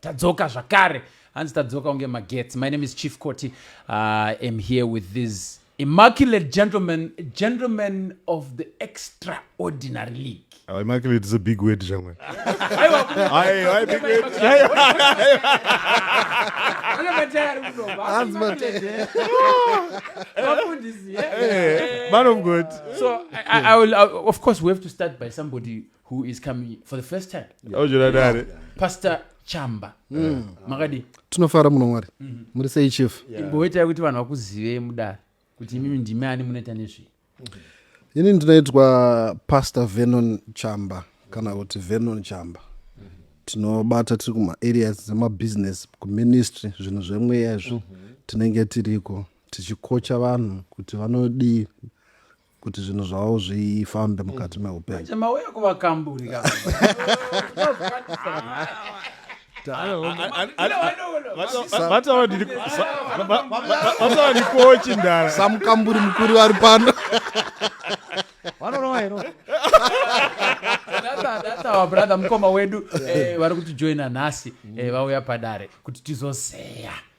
tadzoka zvakare hanzi tadzoka kunge magetsi my name is chief coty uh, am here with these immaculate gentlemen gentlemen of the extraordinary league oh, immaculate is a big word zvamwe man of god so I, I, I will, I, of course we have to start by somebody who is coming for the first time auchona dare pastor chamba mm. makadii tinofara muno mwari mm-hmm. muri sei chief imboitai kuti vanhu vakuzivei mudare kuti imimi ndimi ani munoita nezvei ini ndinoitwa pastor venon chamba kana kuti venon chamba tinobata tiri kumaareas dzemabusiness kuministry zvinhu zvemweya izvo mm-hmm. tinenge tiriko tichikocha vanhu kuti vanodii kuti zvinhu zvavo zvifambe mukati meupenyu Acha mauya kuvakamburi ka. vatawa ndikochi ndara samukamburi mukuru ari pano vanorova hero Data- data our brother mukoma wedu eh, vari kutijoina nhasi eh, vauya padare kuti tizozeya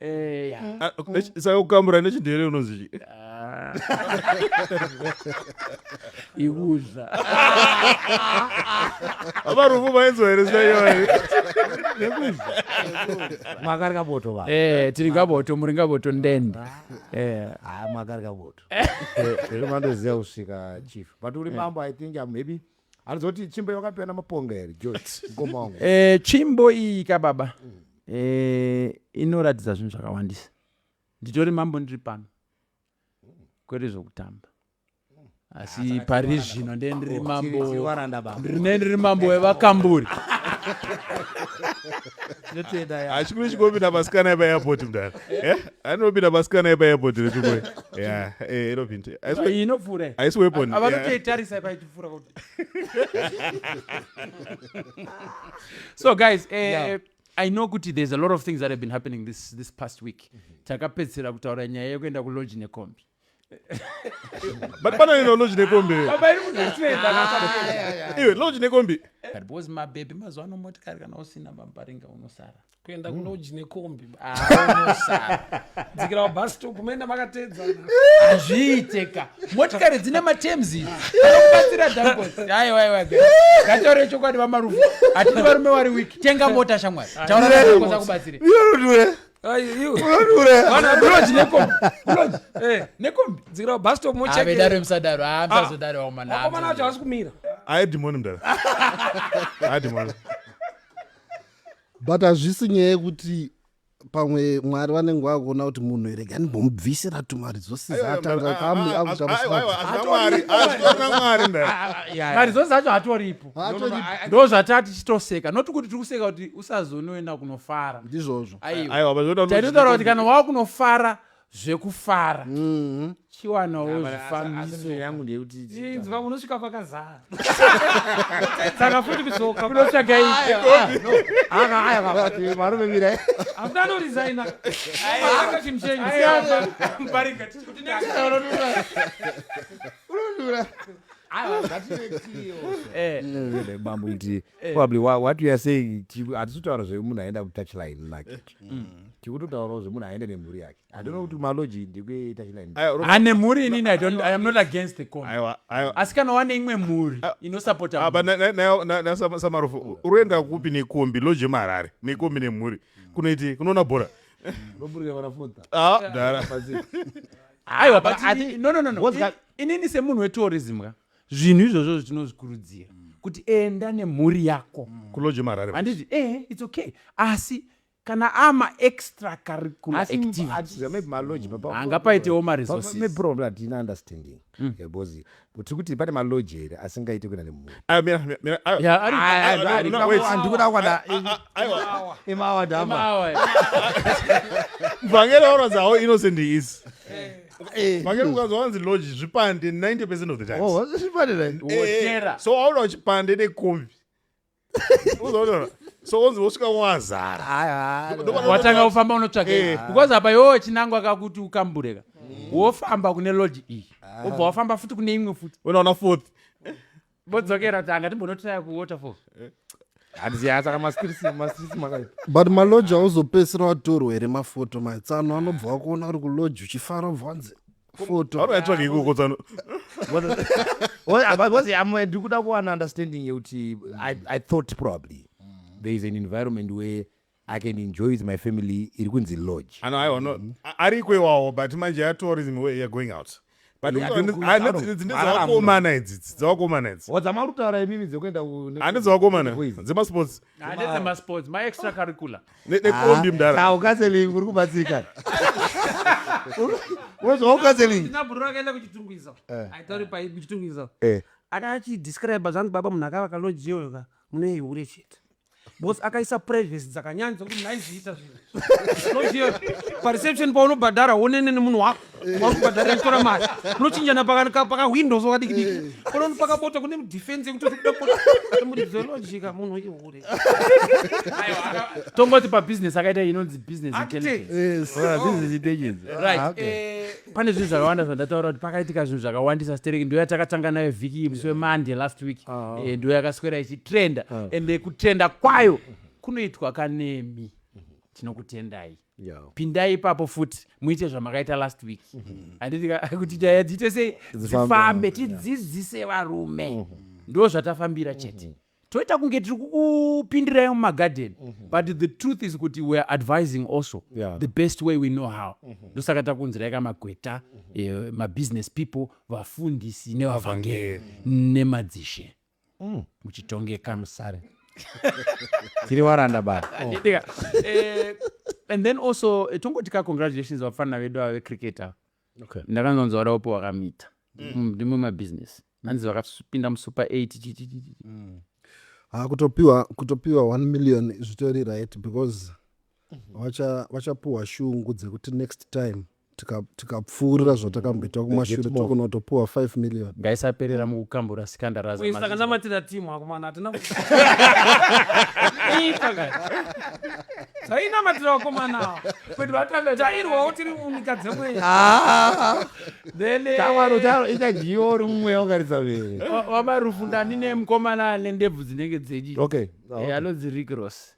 Eh, ah, saka kukamura nechindere unonzi chii ah. ibuza abarufu vainzwa here zita iyoyi mwakari kaboto va eh, tiri kaboto muri kaboto ndende eh. ah, mwakari kaboto zvemandoziva kusvika chief but uri mambo i think maybe anozoti chimbo yakapiwa namaponga here jot mukoma wangu Eh, tsvimbo iyi ka baba eh, inoratidza zvinhu zvakawandisa nditori mambo ndiri pano kwete zvokutamba asi pari zvino ndiye ndiri mambo Tiri varanda baba ndine ndiri mambo wevakamburi Tinotenda ya. achikuru chikopinda masikana epairport mdara Eh, anopinda masikana epairport rechikuru ya eh, inopinda Aisi- iyi inopfuura iyi. aisi weapon Ava- yeah. vanotoitarisa ipaiti kufura kuti so guys uh, yeah. Eh, i know kuti there's a lot of things that have been happening this, this past week mm -hmm. takapedzisira kutaura nyaya yekuenda kuloji nekombi but pana ino loji nekombi iwe loji nekombi but bcause mabebi mazuva ano motikari kana usina bambaringa unosara kuenda mm. kuloji nekombi dzikira wabhastop maenda makateedzana hazviiteka motikari dzine matems anokubatsira dhambosi aiwaiwa ngataure chokwadi vamarufu hatiti varume wari wiki tenga mota shamwari taurakoza kubatsire nekombivedaro msadaro amsazodaro waumanaomana wacho hasi kumira aedimoni mdara aedimoni but hazvisi nyaya yekuti pamwe mwari vanenge vakuona kuti munhu here gani bomubvisira tumari dzosizatanga kamweakuamari dzose zacho hatoripo ndo zvataa tichitoseka noti kuti tiri kuseka kuti usazonoenda kunofara ndizvozvo aiwa taitotaura kuti kana wakunofara zvekufara mm-hmm. chiwanawo zvifambiso yangu ndeyekutinzwa unosvika pakazara saka futi kudzoka kunotsvaga ivarume mira afuti anorisaina akachimshenyiunodura bambo iti Eh. probably wha- what we are saying ti- hatisi kutaura zvemunhu aenda kutouchline lake Mm. tiri kutotaurawo zvemunhu aenda nemhuri yake handona kuti maloji ndekuetouchline Aiwa, Ropa- ane mhuri inini I don't- i am not against the con aiwa, aiwa. asi kana wane imwe mhuri Ah, inosapota Ah, but na- na- na- na- na- Sam- samarofu uroenda kupi nekombi loje marare nekombi nemhuri kunoiti kunoona bhora loburira vanafuta Ah, dhara. aiwa but I- no no no no What's that? I- inini semunhu wetourism ka zvinhu izvozvo zvitinozvikurudzira mm. kuti enda nemhuri yako mm. kuloje marare handiti eh it's okay asi kana ama extra curricular activitiesanga paitewo maresourcesproblematina understanding mm. because tiri kuti pane maloji here asingaite kuenda nemhuriandikuda kwana imawa dama mvangeri auradzawo innocent is eh. Eh. makere ukanzwa vanzi lodge zvipande 90 percent of the times Oh, zvipande right? Eh, Wotera. so waona uchipande nekombi uzoona so onzi wosvika wazara Hayi, hayi. Ndopano- watanga kufamba unotsvaka Eh. because apa yoo chinangwa akakuti ukambureka wofamba kune lodge iyi wobva wafamba futi kune imwe futi unoona fourth vodzokera kuti anga timbonotiraya kuwaterfall eh. handiziva saka mastrisi makaipa but maloji auzopedzisira watorwa here mafoto maitsano anobva wakuona uri kuloji uchifara ubva wanzi ndikuda kuwana understanding yekuti i thought probably there is an environment where I can enjoy with my family iri kunzi lodge. Ano haiwa no mm-hmm. ariko iwawo but manje ya tourism way ya going out. But ndidzawakomana idzi dzawakomana idzi. Wadzamara kutaura imimi dzekuenda ku Ane dzawakomana dzema sports. Ane dzema sports my extra curricular. Ne ne kombi ah, mdara. Tawo counseling uri kubatsika. Wewe zvawo counseling. Ndinabhurura kaenda kuchitungwiza. Eh. Aitori pa kuchitungwiza. Eh. Akachi describe zvanzi baba munhu akavaka lodge yoga. Mune hure chete. bos akaisa privacy dzakanyanya dzekuti maiziita zvinhu pareception paunobhadhara wonene nemunhu wako waunobhadhara itora mari unochinjana pakawindow so kadiki diki konono pakabota kune defense yekuti uri kuda kuti muridzi welojika munhu ihure tongoti pabusiness akaita inonzi business intelligence business intelligence right pane zvinhu zvakawanda zvandataura kuti pakaitika zvinhu zvakawandisa stereki ndo yatakatanga nayo vhiki iyi musi wemande last week ah. eh, ndo yakaswera ichitrenda ah. ende kutrenda kwayo kunoitwa kanemi tinokutendai pindai ipapo futi muite zvamakaita last week mm-hmm. handiti kuti nyaya dziite sei dzifambe tidzidzise varume mm-hmm. ndo zvatafambira chete mm-hmm. toita kunge tiri kukupindirai mumagarden mm -hmm. but the truth is kuti weare advising also yeah. the best way we know how mm -hmm. ndosaka takunzirai ka magweta mm -hmm. eh, mabusiness people vafundisi nevavhangeri mm -hmm. nemadzishe mm. muchitongeka musare tiri waranda baa oh. eh, and then also eh, tongoti ka congratulations vapfanira vedu ava vecricketa okay. ndakanzonzwa vadaopo wakamita mm. mm, ndimwe mabusiness mm. nanzi vakapinda musuper 8 chichichichi Mm. Ah, kutopiwa kutopiwa 1 million zvitori right because vacha- vachapuwa shungu dzekuti next time tika- tikapfuurira zvatakambita kumashure more. tokunotopuwa 5 million ngaisaperera mukukambura sikandaraza Uyu saka ndamatira timu akomana hatina ku- Ipa ka. tainamatira vakomana ava. tairwawo tiri munyika dzekwenyu tawaro tawaro ichadyiwa uri mumwe wakaridza vere wamarufu ndani nemukomana ane ndebvu dzinenge dzechi okay ah, eh, anonzi rick ross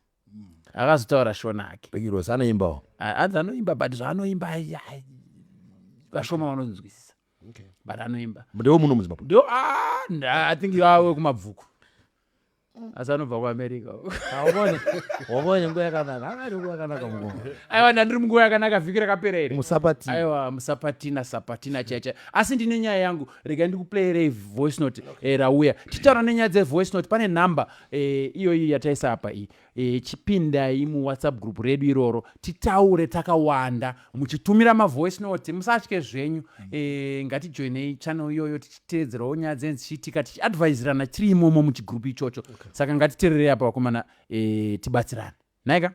akazotaura shona ake rick ross anoimbawo anzi anoimba but zvaanoimba vashoma vanonzwisisa but anoimba ndewo muno muzimbabwe ndewo ah, i think yawe kumabvuku Mm. asi anobva kuamerica waone nguva yakanaka aari nguva yakanaka mukoma aiwa ndandiri munguva yakanaka vhiki rakapera iri musapati aiwa musapatina sapatina chaicha asi ndine nyaya yangu rega ndikuplayerei voice note eh, rauya titaura nenyaya dzevoice note pane nhamba eh, iyoyi yataisa apa iyi eh, chipindai muwhatsapp group redu iroro titaure takawanda muchitumira mavoice note musatye zvenyu ngatijoinei channel iyoyo teedzerawo nyaya dzenyu dzichiitika tichiadviserana tiri imomo muchigroup ichocho okay. saka ngatitererei apa vakomana e, tibatsirane naika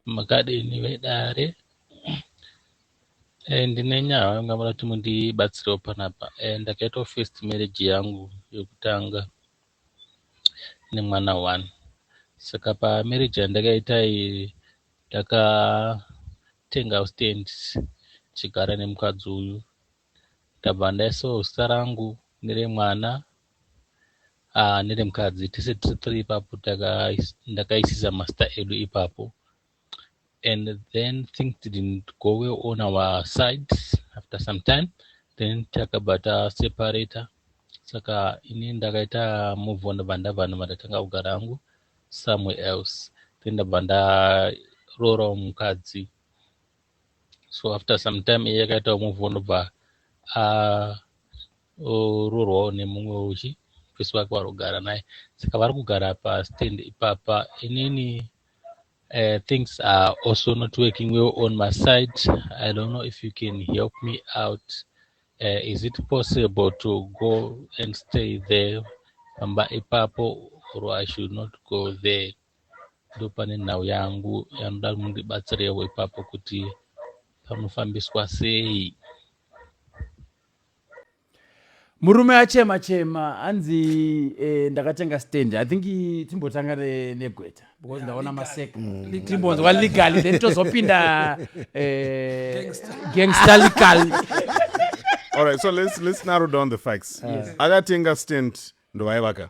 makadini vedare e, ndine nyaya yanga mura kuti mundibatsirewo panapa e, ndakaitawo first marriage yangu yokutanga nemwana one saka pamarriage yandakaita iyi ndakatenga stands chigara nemukadzi uyu Ndabva ndaisawo zita rangu neremwana ah, neremukadzi tese tiri three ipapo ndakaisisa mazita edu ipapo and then things didn't go well on our sides after some time then takabva taseparator saka ini ndakaita move on ndabva ndabva ndabva ndatanga kugara hangu somewhere else then ndabva ndaroorawo mukadzi so after some time iye akaitawo move on obva arorwawo nemumwe uchi muprisi wake wari kugara naye saka vari kugara pastand ipapa inini uh, things are also not working well on my side i don't know if you can help me out uh, is it possible to go and stay there pamba ipapo or i should not go there ndopane nhau yangu yanoda mundibatsirewo ipapo kuti panofambiswa sei murume achema chema hanzi eh, ndakatenga stand i think timbotanga negweta because ndaona masek mm. timbonzwa legal then tozopinda eh, gangster legal all right so let's, let's narrow down the facts yes. akatenga stand ndovayevaka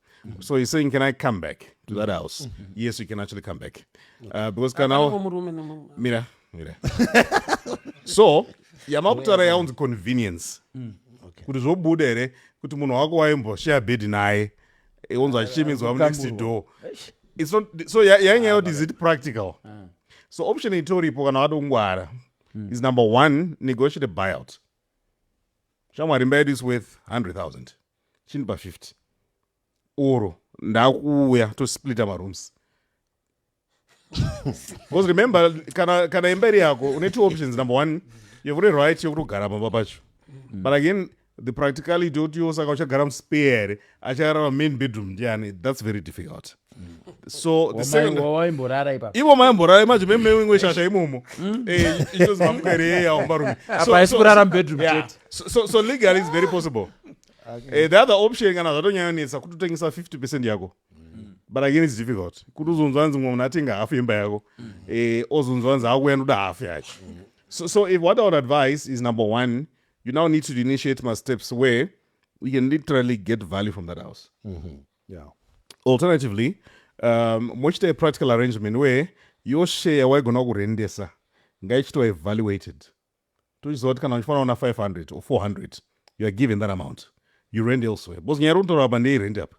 Mm-hmm. So he's saying, can I come back to that house? Mm-hmm. Yes, you can actually come back. Uh, because can now, mira, mira. so, yamakutara yaunzi convenience. Mm, kuti zvobuda here kuti munhu wako waimboshare bed naye onzi achichimidzwa munext door so yainyaya yoti is it practical ah. so option itoripo kana wada kungwara hmm. is number one negotiate buyout shamwari mbayedu is worth 100000 chindipa 50 or ndakuuya tosplita marooms because remember kana, kana imba iri yako une two options number one yekuti right yekutogara pamba pacho but again the practicality yoti yo saka uchagara muspare here acharara main bedroom ndiani that's very difficult so the second wawaimborara ipapo ivo maimborara manje memewingwe shasha imomo hmm? eh, ichozi mamukere yeye aombarume apa haisi kurara mubedroom chete so legally is very possible eh, the other option kana zvatonyanyonetsa kuti utengesa 50 percent yako hmm. but again its difficult kuti uzonzwa hanzi mumwe munhu atenga hafu yemba yako hmm. eh, ozonzwa hanzi akuya ndoda hafu yacho so if what i would advise is number one you now need to initiate masteps where we can literally get value from that house mm -hmm. yeah. alternatively um, mochita practical arrangement where your share waigona kurendesa ngaichitova evaluated tochiziva kuti kana uchifanira una 500 or 400 you are given that amount you rend elsewhere because nyaya rinotaura apa ndei rend apa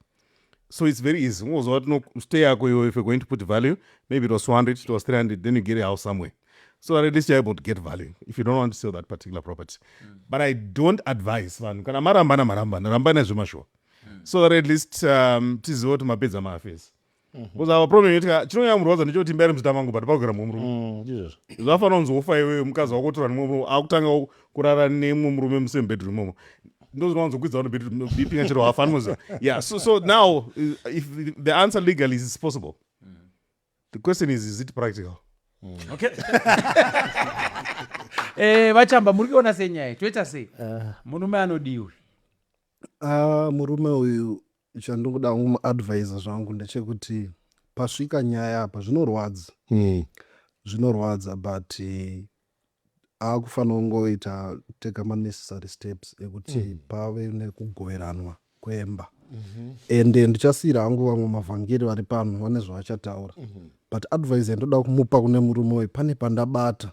so it's very easy ungoziva kuti stay yako iwe if you're going to put value maybe it was 200 it was 300 then you get a house somewhere so that at least you're able to get value if you don't want to sell that particular property mm. but i don't advise vanhu kana marambana marambana rambai nezvemashuwa so that at least um, tizive kuti mapedza maafesi mhm. bcause our problem yeti chinonyanya murwadza ndechekuti imba iri muzita mangu but pakugara mumwe murume mm, zvafanira kunzi wofa iweyo mukadzi wako otora nemwe murume akutanga kurara nemwe murume musame bedroom momo ndozvinowanzokwidza vano bedroom bipinga chero hafa anoziva yeah so, so now uh, if the answer legally is possible The question is, is it practical? Mm. Okay. eh, vachamba muri kuona sei nyaya toita sei uh, murume anodiwi uh, murume uyu chandikuda kumuadvisa zvangu ndechekuti pasvika nyaya apa zvinorwadza mm. zvinorwadza but Akufanira kungoita taker ma necessary steps ekuti pave nekugoveranwa kwemba and ndichasiira hangu vamwe mavhangeri vari pano vane zvavachataura but advice yandoda kumupa kune murume uyu pane pandabata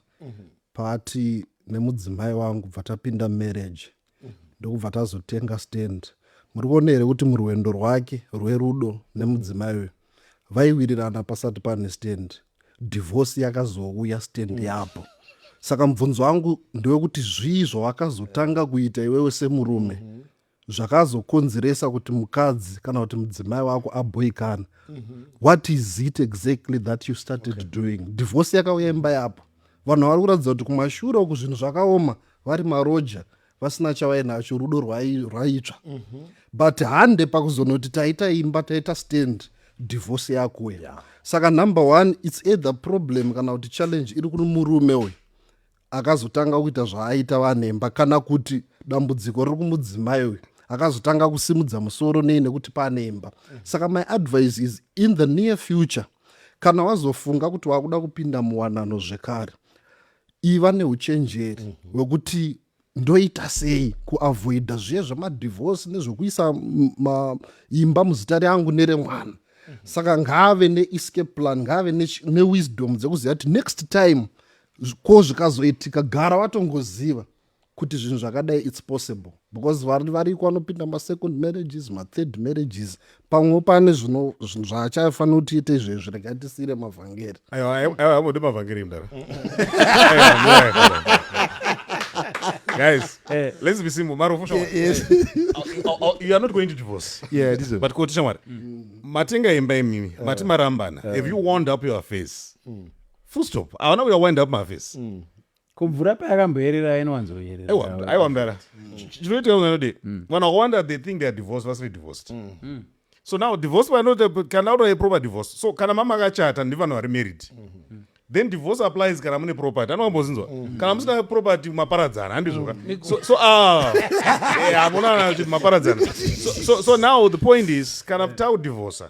paati nemudzimai wangu bva tapinda marriage ndokubva tazotenga stand muri kuona here kuti murwendo rwake rwerudo nemudzimai uyu vaiwirirana pasati pane stand divorce yakazouya stand mm. yapo saka mubvunzo wangu ndewekuti zvii zvawakazotanga kuita iwewe semurume mm -hmm zvakazokonzeresa kuti mukadzi kana kuti mudzimai wako aboikana mm -hmm. what is it exactly that you started okay. doing divorce yakauya imba yapo vanhu vari kuratidza kuti kumashure uku zvinhu zvakaoma vari maroja vasina chavainacho rudo rwaitsva mm -hmm. but hande pakuzonoti taita imba taita stand divorce yakuya yeah. saka number one its either problem kana kuti challenge iri kuri murume uyu akazotanga kuita zvaaita vanemba kana kuti dambudziko riri kumudzimai uyu akazotanga kusimudza musoro nei nekuti pane imba mm -hmm. saka my advice is in the near future kana wazofunga kuti wakuda kupinda muwanano zvekare iva neuchenjeri mm -hmm. wekuti ndoita sei kuavoida zviye zvemadivhosi nezvekuisa imba muzita reangu neremwana mm -hmm. saka ngaave neescape plan ngaave newisdom ne dzekuziva kuti next time ko zvikazoitika gara watongoziva kuti zvinhu zvakadai its possible because vari variko vanopinda masecond marriages mathird marriages pamwe pane zvinhu zvaachafanira kuti ite izvezvi regai tisiire mavhangeri aivamode mavhangeri mdara guys eh. let's be simple marofu shamwari yes. Oh, oh, you are not going to divorce yeah, this but koti shamwari mm. matenga imba imimi uh, mati marambana uh, have you wound up your face mm. full stop aona uya wind up my face mm. ko mvura payakamboyerera yainowanzoyerera aiwa mdara chinoitika unganodi mm. vanhu vakawanda they think theyare divorce vasiri divorced mm. Mm. so now divorce vanoti kana unoye proper divorce so kana mama akachata ndivanhu vari married mm-hmm. then divorce applies kana mune property anokambozinzwa mm-hmm. kana musina property maparadzana handizvoka mm-hmm. so, so ah, eh, hamunana kuti maparadzana so, so, so now the point is kana takudivorcer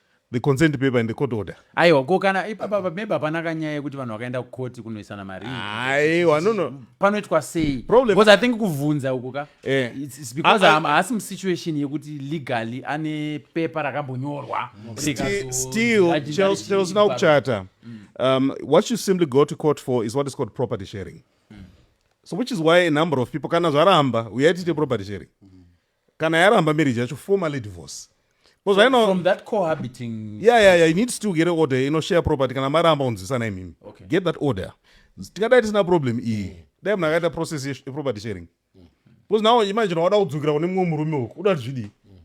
the consent paper and the court order aiwa ko kana ipapa maybe hapana kanyaya yekuti vanhu vakaenda kukoti kunoisana mari aiwa no no panoitwa sei problem because i think kuvhunza uku ka eh. it's, it's because ah, ah. haasi musituation yekuti legally ane pepa rakambonyorwa still chelsea now kuchata mm. um, what you simply go to court for is what is called property sharing mm. so which is why a number of people kana zvaramba uyai tiite property sharing mm. kana yaramba marriage yacho formally divorce because right now from that cohabiting yeah yeah yeah you need to get an order you know share property kana maramba unzwisana imimi okay. get that order tingadai tisina problem iyi mm. dai munhu akaita process yeproperty sharing mm. because now imagine wada kudzokera kune mumwe murume uku uda zvidi mm.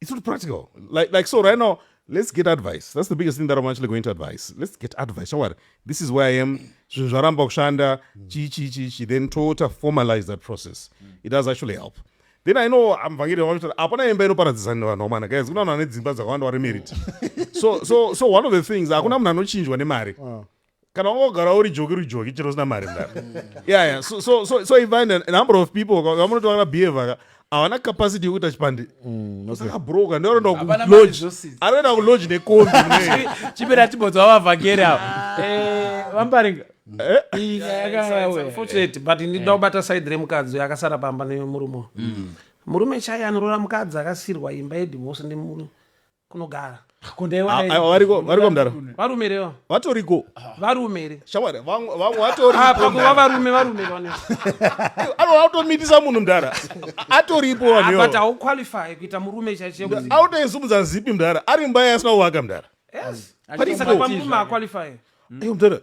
it's not practical like, like so right now let's get advice that's the biggest thing that i'm actually going to advise let's get advice shawari this is where i am zvinhu zvaramba kushanda chii chii chii chii then toota formalize that process it does actually help mm. then i know muvhangeri vanotaura hapana imba inoparadzisa vanhu vamana guys kuna vanhu vane dzimba dzakawanda vari merit so, so, so one of the things hakuna munhu anochinjwa nemari ah. kana wanga kugara uri joki uri joki chero usina mari mdara yeah, yeah. so, so, so, so even a number of people vamunoti vana behavior havana capacity yekuita chipandi mm, saka broka ndoenda kuloanoenda kuloji nekombi chipera tibodzi vavavhangeri ava eh, vambaringa Eh? unfortunate but ndida eh. kubata side remukadzi uyo akasara pamba nemurume mm. murume chaiye anorora mukadzi akasirwa imba yedivorce nemuru kunogara varikovarumerewa vatoriko varumere shamwari vatorikuva varume varumerewa anotomitisa munhu mdara atoripo vanbut hauqualify kuita murume chaichee autoisumudza zipi mdara ari mba yaasina kuvaka mdara yes. mutare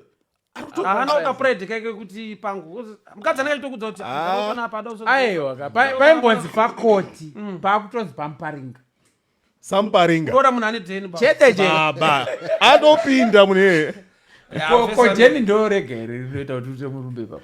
anoda pride kake kuti pangu mukadzi anenge achitokudza kuti ah. aiwa paimbonzi pakoti mm. pakutonzi pamuparinga samuparinga tora munhu ane ten chete chebaba anopinda mune ko jeni ndorega here rinoita kuti uite murumbe ipapo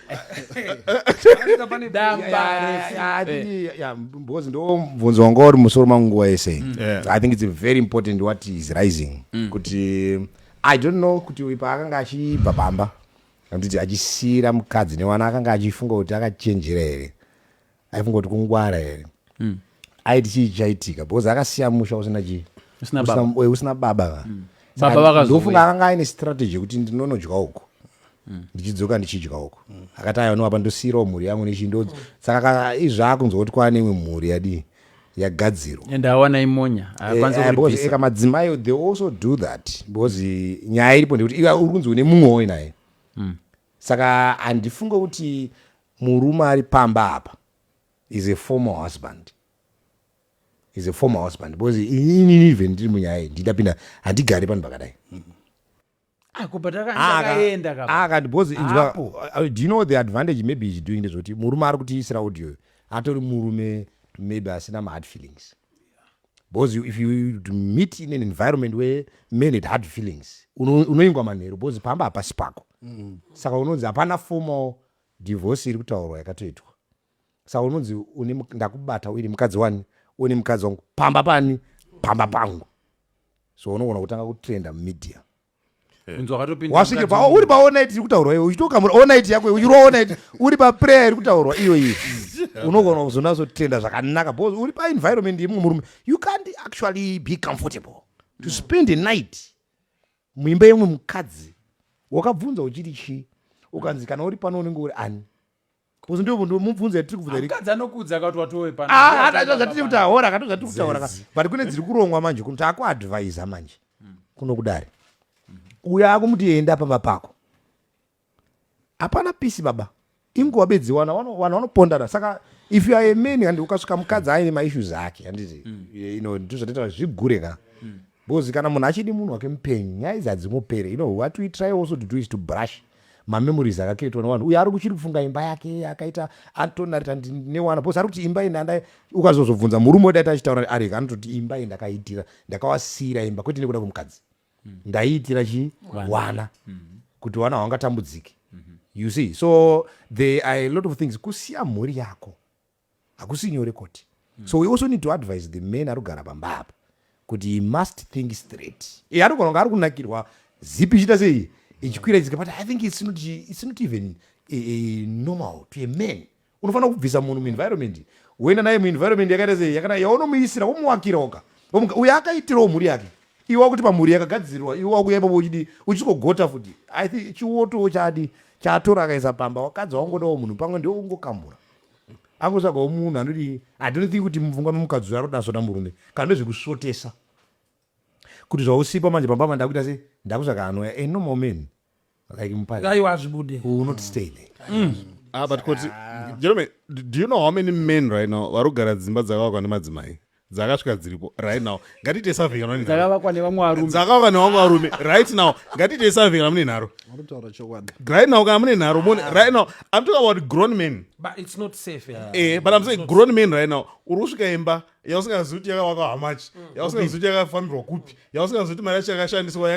because ndobvunzo wanga uri musoro mangu nguva yese mm. i think its very important what is rising mm. kuti i don't know kuti uyu paakanga achibva pamba anditi achisiira mukadzi newana akanga achifunga kuti akachenjera here aifungoti kungwara here mm. aiti chii chaitika because akasiya musha usina chii usina baba, usina, usina baba va mm. baba vakazofunga akanga aine strategy yekuti ndinonodya uku mm. ndichidzoka ndichidya uku mm. akati ayoniwa pa ndosiyirawo mhuri yangu nechindo saka izvi akunzwa kuti kwaane imwe mhuri yadii yagadzirwa and awana imonya eh, eka madzimai they also do that because nyaya iripo ndekuti iwe uri kunzi une mumwe woinaye mm. saka handifunge kuti Murume ari pamba apa is a former husband is a former husband because inini even ndiri munyaya iyi ndidapinda handigari panhu pakadai akati because inzwa uh, do you know the advantage maybe is doing ndezvekuti murume ari kutiisira audio atori murume maybe asina mahard feelings because you, if you meet in an environment where men had hard feelings unoingwa manheru because pamba hapasi pako mm. saka unonzi hapana formal Divorce iri kutaurwa yakatoitwa saka unonzi une ndakubata uine mukadzi wani une mukadzi wangu pamba pani pamba pangu so unogona kutanga kutrenda mumedia wasvike pa uri pa onit iri kutaurwa iwe uchitokamura onit yako iwe uchirwa onit uri pa prayer iri kutaurwa iyo iyi unogona kuzonatso tenda zvakanaka because uri pa environment yemumwe murume you can't actually be comfortable to spend a night muimba yemwe mukadzi wakabvunza uchiti chii ukanzi kana uri pano unenge uri ani bcause ndomubvunza yatiri kubvunzaaatiri ah, kutaura kato zvatiri kutaura but kune dziri kurongwa manje kuno taakuadvisa manje kuno kudare uyo akumuti enda pamba pako hapana pisi baba inguva bedzi wana vanhu vanopondana saka if you are a man and ukasvika mukadzi aine maissues ake handiti mm. you know ndozvataita zvigure ka mm. because kana munhu achidi munhu wake mupenyu nyaya idzi hadzingopere you know what we try also to do is to brush mamemories akakiretwa nevanhu uye ari kuchiri kufunga imba yake akaita antonarita newana bcause ari kuti imba indanda ukazozobvunza murume odaita achitaura arega anototi imba iyi ndakaitira ndakawasiyira imba kwete nekuda kwemukadzi mm. ndaiitira chi wana mm. kuti wana hwangatambudziki mm -hmm. you see so there are a lot of things kusiya mhuri yako hakusi nyore koti mm. so we also need to advise the men ari kugara pamba apa kuti he must think straight e eh, anogona kunge ari kunakirwa zipi ichiita sei ichikwira ichika but i think it's not, it's not even a, a normal to a man unofanira kubvisa munhu muenvironment woenda naye muenvironment yakaita sei yakanaka yaunomuisira womuwakira oga omuka uyo akaitirawo mhuri yake iwe wakuti pamhuri yakagadzirirwa iwe wakuya ipapo uchidi uchigogota futi i think chiwotowo chadi chaatora akaisa pamba wakadzi waungodawo munhu pamwe ndiwo ungokamura angotsvagawo munhu anoti i don't think kuti mupfungwa memukadzi uyo aroda sota murume kana ndozvekusvotesa kuti zvausipa manje pamba mandakuita se ndakutsvaga anoya a normal man like mupari aiwa hazvibude u will not stay there mm. ah, but koti jerome do you know how many men right now vari kugara dzimba dzakavakwa nemadzimai dzakasvika dziripo right now ngatiite survey kana dzakavakwa nevamwe varume dzakavakwa nevamwe varume right now ngatiite survey kana mune nharo aritaura chokwadi right now kana mune nharo mone right now i'm talking about grown men but it's not safe eh, eh but i'm saying grown men right now uri kusvika imba yausingazivi kuti yakavakwa hamachi mm. yausingazivi kuti yakafambirwa kupi yausingazivi kuti mari yacho yakashandiswa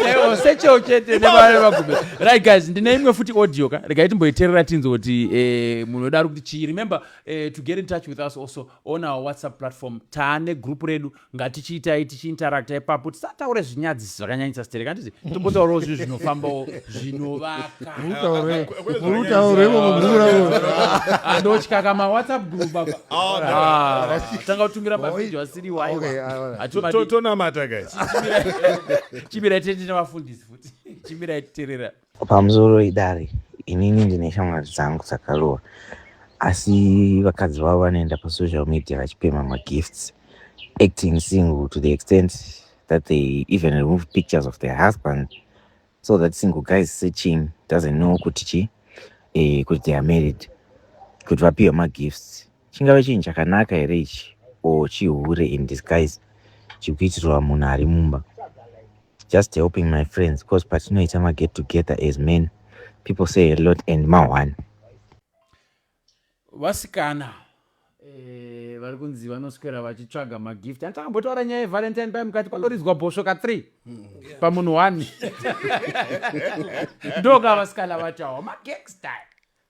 yangasechewo chete nevare vagume right guys ndine imwe futi audio ka regai timboiterera tinzi kuti eh, munhu wedu ari kuti chii remember eh, to get in touch with us also on our whatsapp platform taane group redu ngatichiitai tichiinteracta ipapo tisataure zvinyadziso zvakanyanyisa stereka handiti tombotaurawo zvinhu zvinofambawo zvinovakaandotya kama whatsapp group apa oh, ah, tanga kutumira mavideo asiri waiwatonamata guys chimirai tete nevafundisi futi chimirai titerera Pamusoro idare inini ndine shamwari dzangu dzakaroora asi vakadzi vavo vanoenda pasocial media vachipema magifts acting single to the extent that they even remove pictures of their husband so that single guys searching doesn't know kuti chi eh, kuti they are married kuti vapiwe magifts Chingave chinhu chakanaka here ichi or chihure in disguise chikuitirwa munhu ari mumba just helping my friends because patinoita maget together as men people say a lot and mahwani vasikana eh, vari kunzi vanoswera vachitsvaga magift andichakambotaura nyaya yevalentine paye mukati panoridzwa bhosvo ka three mm, pamunhu one ndoka vasikana vachawa magangster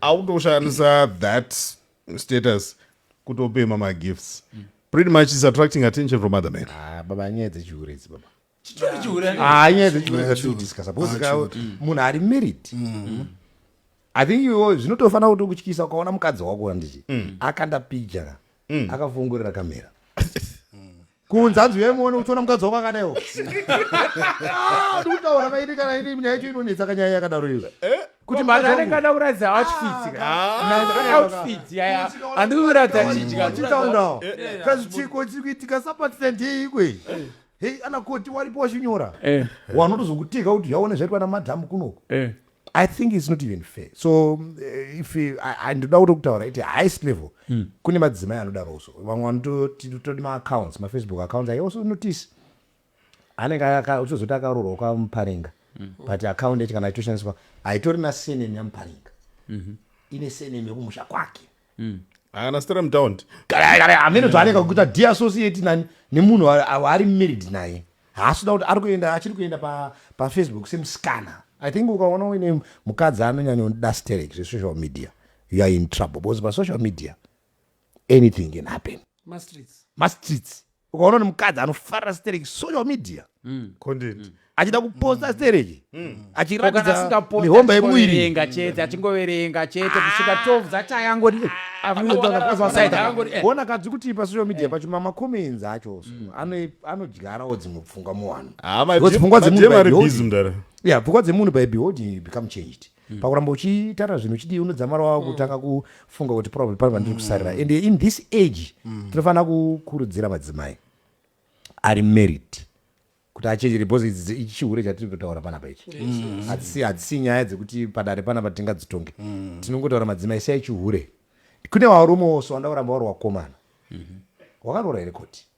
akutoshandisa that status kutopema magifts mm. pretty much is attracting attention from other men ah, baba nyaya dzechihure idzi baba ah, nyaya dzechihurediscussa because mm. munhu ari married mm. i think iwo zvinotofanira kuti kutyisa ukaona mukadzi wako anditi akanda picture akafungurira kamera kunze hanzi uyai muone uchiona mukadzi wako akadaiwo Ah, ndikutaura kaidi kana ini nyaya yacho inonetsa kanyaya yakadaro iyo Eh? kuti mari anenge ada kuratidza outfits ka Ah. outfits yaya handisi kuratidza chidya chitaundawo Eh. kazvichiko chiri kuitika sapatstand yeikwe hei anakoti waripo wachinyora Eh, wanotozokutika kuti zvaone zvaitwa namadhamu kunoko eh. I think it's not even fair. So uh, if eh, I don't know what to the highest level, mm. kune madzimai anoda roso. Vamwe vanototi totodi ma accounts, ma Facebook accounts. I also notice anenge uchizoti akaroorwa kwa Muparinga. Mm. But account yacho kana itoshandiswa haitori na surname ya Muparinga. Mm -hmm. Ine surname yekumusha kwake. mm. haana stera mutaundi amene zvaaneka kuita deassociate nani nemunhu waari married naye haasi kuda kuti ari kuenda achiri kuenda pafacebook pa semusikana i think ukaona uine mukadzi anonyanya unoda sterek zvesocial media you are in trouble because pasocial media anything can happen mastreets ukaona ni mukadzi anofarira stereki social media mm. content mm. achida kuposta mm. stereki mm. achiratidza mihomba yemuviri chete achingoverenga chete kusvika 12 ah. dzachayangoti ona eh. kadzi kuti pasocial media eh. pacho mamacomments acho mm. anodyarawo dzimwe pfungwa muvanhu ah, pfungwa dzemunhu by beholding become changed mm. pakuramba uchitara zvinhu uchidii unodzamara wava mm. kutanga kufunga kuti probably pane vandiri mm. kusarira and in this age mm. tinofanira kukurudzira madzimai ari married kuti achenjere because idzi ichihure chatiri kutaura panapa ichi mm. hadzisi hadzisi nyaya dzekuti padare panapa tingadzitonge mm. tinongotaura madzimai sei chihure kune varume oso wanda kuramba wari wakomana mm-hmm. wakaroora here koti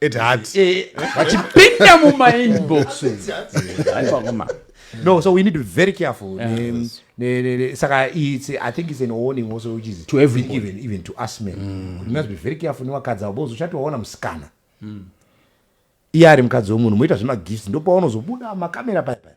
at heart Eh, vachipinda mumainbox aivaoma no so we need to be very careful ne- ne- ne- ne- saka it's i think it's an warning also which is To everybody. even, even to us men Kuti we must be very careful nevakadzi avo because uchati waona musikana iye ari mukadzi wemunhu moita zvemagifts ndopaunozobuda makamera paya paya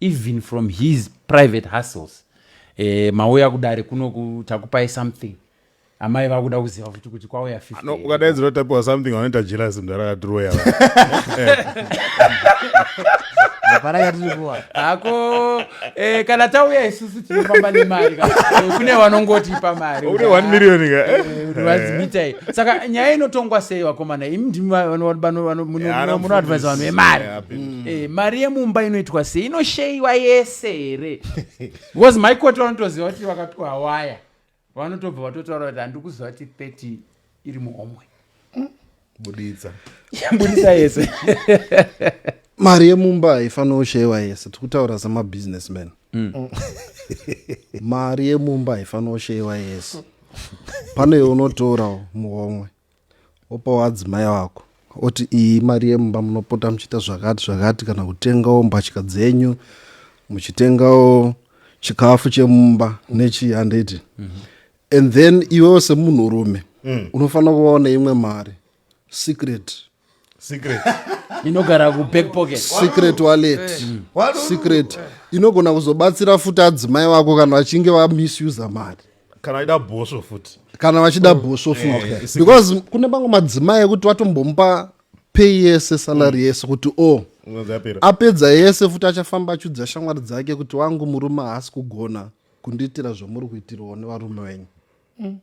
even from his private hustles eh, mauya kudare kunoku takupai something amai vakuda kuziva futi kuti kwauya 50 No, here. ukadaidzira kuti tapiwa something vanoita jealous mnhu arakadhiroya hapana yatiri kuwa hako eh, kana tauya isusu tinofamba nemari ka. Eh, kune vanongotipa mari une 1 million ka eh? vanzimitai saka nyaya inotongwa sei vakomana imi ndimi va- vano- vano- vano- muno- Yeah, muno- munoadvise vanhu vemari Yeah, big mm. eh, mari yemumba inoitwa sei inosheyiwa yese here because maikoti vanotoziva kuti vakapiwa waya vanotobva vatotaura kuti handiri kuziva kuti 30 iri muhomwe mm. buditsa buditsa yese mari yemumba haifanira kusheyiwa yese tiri kutaura semabusiness man mm. mm. mari yemumba haifanira kusheyiwa yese pane yeunotorawo muhomwe Wopawo adzimai wako oti iyi mari yemumba munopota muchiita zvakati zvakati kana kutengawo mbatya dzenyu muchitengawo chikafu chemumba nechii handiti mm -hmm. and then iwewo semunhurume mm. unofanira kuvawo neimwe mari secret secret inogara kuback pocket secret wallet mm. secret inogona kuzobatsira futi adzimai vako kana vachinge vamisusa mari kana vaida bhosvo futi kana vachida bhosvo futi eh, eh, because kune mamwe madzimai ekuti vatombomupa pay yese salary mm. yese kuti o oh, apedza yese futi achafamba achiudza shamwari dzake kuti wangu murume haasi kugona kundiitira zvamuri kuitirwawo nevarume venyu mm.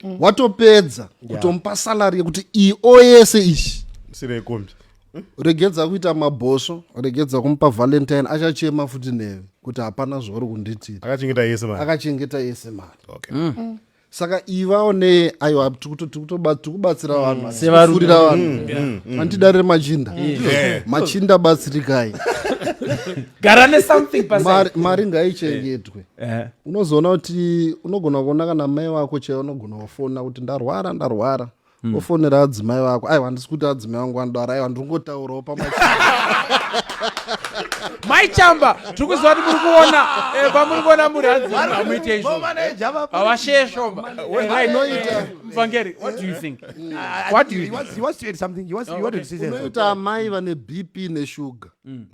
mm. watopedza kutomupa yeah. salary yekuti io yese ishi sirekombi hmm? regedza kuita mabhosvo regedza kumupa valentine achachema futi newe kuti hapana zvauri kunditira akachengeta yese mari akachengeta yese mari okay. mm. Mm saka ivawo ne aiwa tikubatsira mm. vanhu sevafurira vanhu mm, mm, mm. andidarire machinda yeah. machinda batsirikai gara nesomething mari ngaichengetwe Eh. unozoona kuti unogona kuona kana mai wako chaivo unogona kufona kuti ndarwara ndarwara mm. ofonera adzimai vako aiwa handisi kuti adzimai vangu vanodara aiwa ndiri kungotaurawo pama mai chamba tiri kuziva kuti muri kuona eh, pamuri kuona muri hadziamuite izvoavashe shoma mvangeri unoita amai vane bp neshuga mm.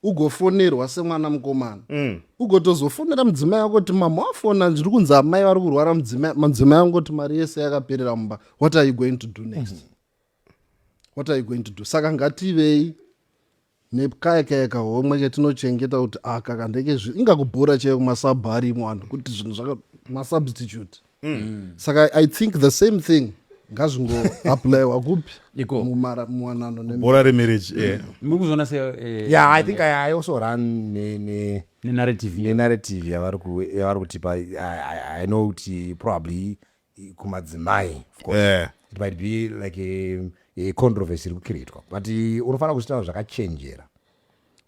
ugofonerwa semwana mukomana mm. ugotozofonera mudzimai wako kuti mama wafona ndiri kunzi amai vari kurwara mudzimai wangu kuti mari yese yakaperera mumba what are you going to do next mm -hmm. what are you going to do saka ngativei nekaya kaya kahomwe ketinochengeta kuti aka ah, kandeke zvi ingakubhura chaiyo kumasabhu arimo anhu kuti zvinhu zvaka masubstitute mm. saka i think the same thing ngazvingoaplayiwa kupi iko mumara muwanano nebhora remarriage eh. mm. muri kuzoona se eh, yeah i think i, I also run ne, ne nenarrative nenarrative yavari yavari kutipa i, I know kuti probably kumadzimai of course yeah. it might be like a, a controversy iri kukreatwa but unofanira kuzvitaura zvakachenjera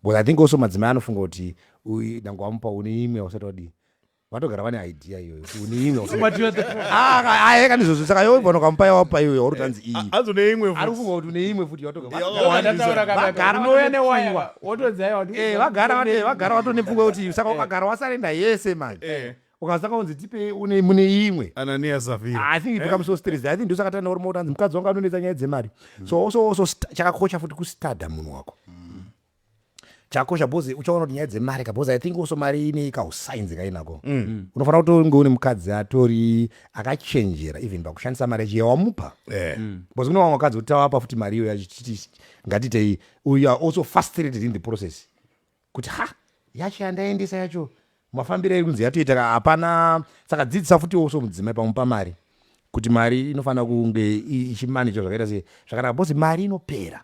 because i think also madzimai anofunga kuti dangwamupa une imwe ausati wadii vatogara vane idea iyoyo une imwe usi- But you are the problem. Ah, ka- ah, heka ndizvozvo saka iwe bwana ukamupa yawapa iyoyo wauri tanzi iyi hanzi une imwe ari futi kufunga kuti une imwe futi yawatoga Yeah, Vagara- yeah. Ndataura kaka, Vagara unouya vane newaya pfungwa. wotodzaya wati Eh, vagara vane vagara vatone pfungwa kuti saka ukagara wasarenda yese mani Eh. ukasaka unzi tipe une mune imwe anania zafira i think it becomes so stressed i think ndosaka tana uri mautanzi mukadzi wangu anonetsa nyaya dzemari so also also st- chakakosha futi kustada munhu wako chakosha bhozi uchaona kuti nyaya dzemari ka bhozi i think also mari ine kausainzi kainako mm. mm. unofanira kuti unge une mukadzi atori akachenjera even pakushandisa mari yacho yawamupa eh. mm. bhozi kune vamwe vakadzi kuti tawapa futi mari iyo yacho titi ngatitei you are also frustrated in the process kuti ha yacho yandaendesa yacho mafambiro iri kunzi yatoita ka hapana saka dzidzisa futi also mudzimai pamupa mari kuti mari inofanira kunge ichimanija zvakaita se zvakanaka bhozi mari inopera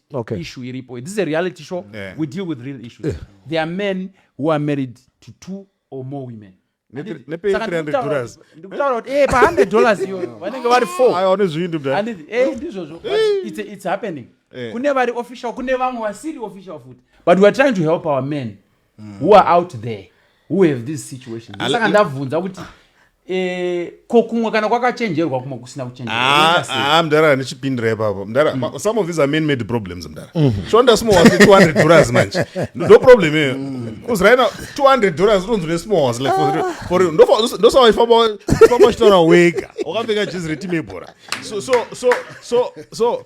okay. issue iripo this is a reality show yeah. we deal with real issues yeah. there are men who are married to two or more women ndikutaura kuti e pa100 dollars iyoyo vanenge vari fourone zviindi e ndizvozvo its happening kune vari official kune vamwe vasiri official futi but weare trying to help our men mm. who are out there who have these situations saka ndabvunza kuti eh, ko kumwe kana kwakachenjerwa kumwe kusina kuchenjerwa ah, ah, mdara nechipindira ipapo mdara mm. some of these are man made problems mdara mm. shonda small was 200 dollars manje no problem iyoyo mm. uzraina 200 dollars unonzi nesmall was like for ndosawaifamba uchitaura wega wakapfeka jezi retimebhora so so so so so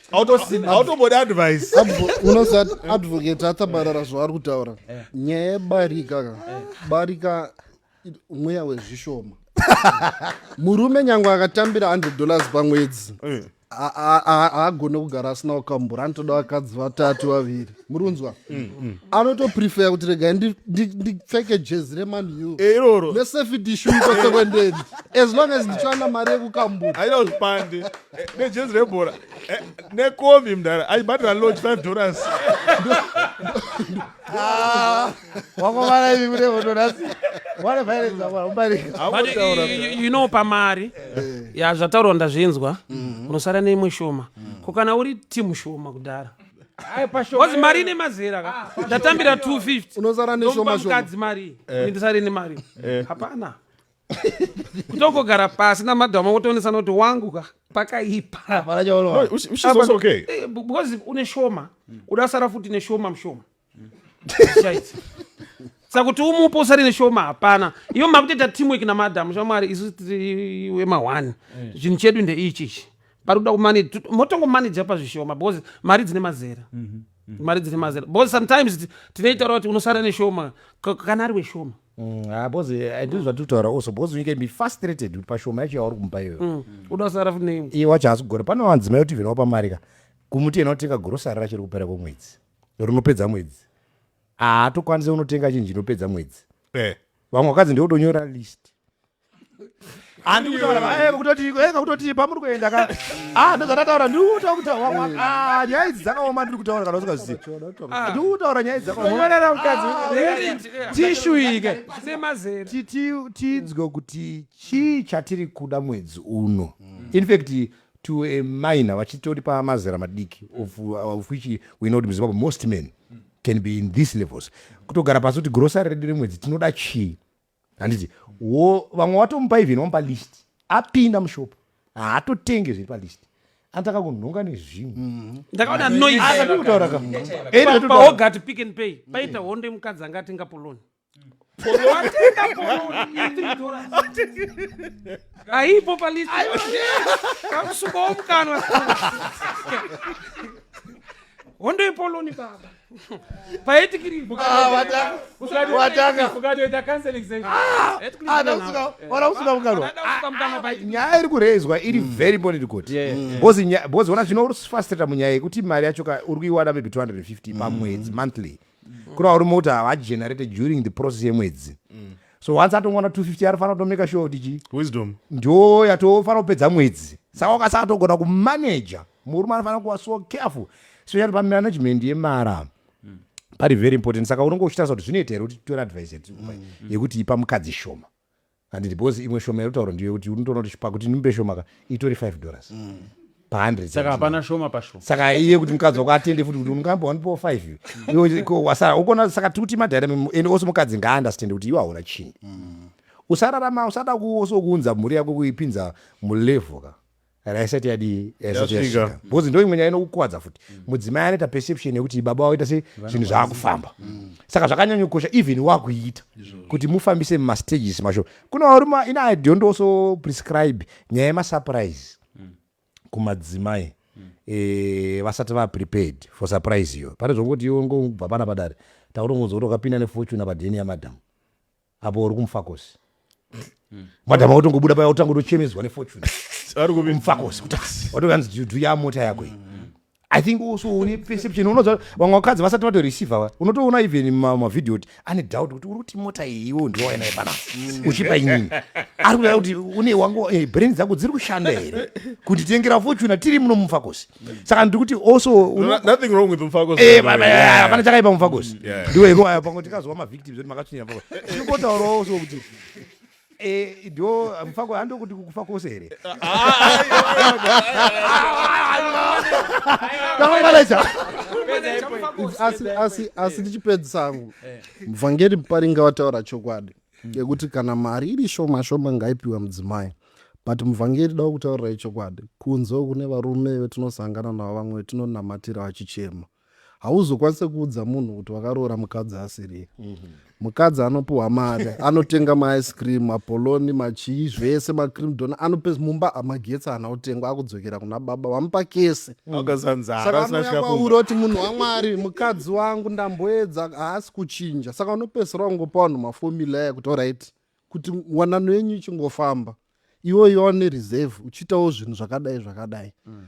hautombodi advice unosat advocate atabarara zvaari kutaura eh. nyaya yebarika ka eh. barika mweya wezvishoma murume nyange akatambira 100 dollars pamwedzi eh. haagone kugara asina kukambura anotoda vakadzi vatatu vaviri murunzwa mm, mm. anotoprefer kuti regai ndipfeke jezi remanu eh, iroro nesafety shu kwese kwendeni as long as ndichiwana mari yekukambuta aida kuzvipande eh, nejezi rebhora eh, nekovi mdara aibhadhira lodge five dollars ah. wakomana ivi kune votonasi you know pamari ya zvataurwa ndazvinzwa mm-hmm. unosara neimwe shoma ko kana uri timu shoma kudhara bcause mari ine mazera ka ah, ndatambira 250mukadzi mari eh. ndisari ne mari eh. hapana kutongogara pasi namadhama wotoonesa noti wangu ka pakaipa eh, bcause une shoma uda sara futi neshoma mushoma saka kuti umupe usari neshoma hapana iyo makutoita teamwork namadham shamwari isu wema one chinhu chedu ndeichichi pari kuda kumanage motongomanage apa zvishoma because mari dzine mazera mhm, mhm. mari dzine mazera because sometimes tinoitaura kuti unosara neshoma kana ari weshoma because mm, ah, ndizvo zvatiri kutaura also because unyika imi frustrated kuti pashoma yacho yauri kumupa iyoyo mm, uda kusara fune iye wacho haasi kugona pane vanzimai kuti vhina wapa mari ka kumuti yena unotenga gorosari rachiri kupera kwemwedzi rinopedza mwedzi haatokwanise unotenga chinji inopedza mwedzi eh. vamwe vakadzi ndikutonyora list andikutoti eh, pamuri kuenda ka ah, ndozvatataura ndikutaura kutaura mm. ah, nyaya idzi dzakaoma ndiri kutaura kana usingazivi ah. ndiri kutaura nyaya idzakaomatishuiketidzwe kuti chii chatiri kuda mwedzi uno mm. infact to a minor vachitori pamazera madiki of which we know kuti muzimbabwe most men can be in these levels kutogara pasi kuti grosari redu remwedzi tinoda chii handiti wo vamwe watomupa even wamupa list apinda mushopo haatotenge zviri palist anotanga kunhonga nezvimwe mm-hmm. ndakaona noisakutaura kapaogati pick and pay paita hondo yemukadzi anga atenga poloni aipo palist kakusukawo mukanwa hondo yepoloni baba nyaya iri kurezwa iri mm. very important kuti bcoz ona zvino uri frustrata munyaya yekuti mari yacho ka uri kuiwana maybe 250 pamwedzi mm. monthly mm. kuna uri moti havagenerate during the process yemwedzi so once atongoona 250 anofanira kutomaker sure kuti chii wisdom ndo yatofanira kupedza mwedzi saka ukasaka togona kumanaja murume anofanira kuva so careful especially pamanagement yemara mm. pari very important saka unonge uchitarisa kuti zvinoita here kuti tore advice mm, mm. yekuti ipa mukadzi shoma anditi because imwe shoma yekutaura ndiyo yekuti unotoona kuti pakuti ndimbe shoma ka itori 5 dollars mm. pa100 saka hapana shoma pasho saka iye kuti mukadzi wako atende futi kuti ungambo wanipo 5 wasara ukona saka tiri kuti madhaira ende ose mukadzi ngaaunderstand kuti iwe hauna chinhu mm. usararama usada kuoso kuunza mhuri yako kuipinza mulevel ka raisati yadii yaisati yasvika because ndo imwe nyaya inokukwadza futi mm. mudzimai anoita perception yekuti baba waita se zvinhu zvaakufamba mm. saka zvakanyanyokosha even wakuita kuti mufambise mumastages masho kuna varuma ina i don't also prescribe nyaya yemasurprise kumadzimai eh, vasati va prepared for surprise iyo pane zvokuti iwe ngobva pana padare takutongonzwa kuti wakapinda nefortune apa deni yamadam apo uri kumfakosi madam akutongobuda paya utanga utochemedzwa nefortune ari kupi mfakosi kuti watokanzi dhuya mota yako iyi i think also une perception unoza vamwe vakadzi vasati vatoreceiva va unotoona even mavhidhio kuti ane doubt kuti uri kuti mota iyi iwo ndiwaenaye panasi mm. uchipa inini ari kuda kuti une wangu eh, brain dzangu dziri kushanda here kunditengera fortuna tiri muno mufakosi saka ndiri kuti also eh, hapana chakaipa mufakosi mm, ndiwo iko ayo pango tikazova mavictims kuti makatsvinyira fakosi ndiri kotaurawo so kuti Eh, ndo mufa kwa ndo kuti kukufa kose here tamangalacha asi asi asi ndichipedzisa angu mvhangeri muparinga wataura chokwadi yekuti kana mari iri shoma shoma ngaipiwe mudzimai but muvhangeri da kutaurira ichokwadi kunze kune varume vetinosangana navo vamwe vetinonamatira vachichema hauzokwanise kuudza munhu kuti wakaroora mukadzi asiriye mukadzi anopiwa mari anotenga maice cream mapoloni machii zvese macream don anope mumba amagetsi ana otengwa akudzokera kuna baba vamupa kese saka anouya kwauri oti munhu wamwari mukadzi wangu ndamboedza haasi kuchinja saka unopedzisira kungopa vanhu mafomula aya kuti orit kuti wanano yenyu ichingofamba iwe yoane reserve uchiitawo zvinhu zvakadai zvakadai mm.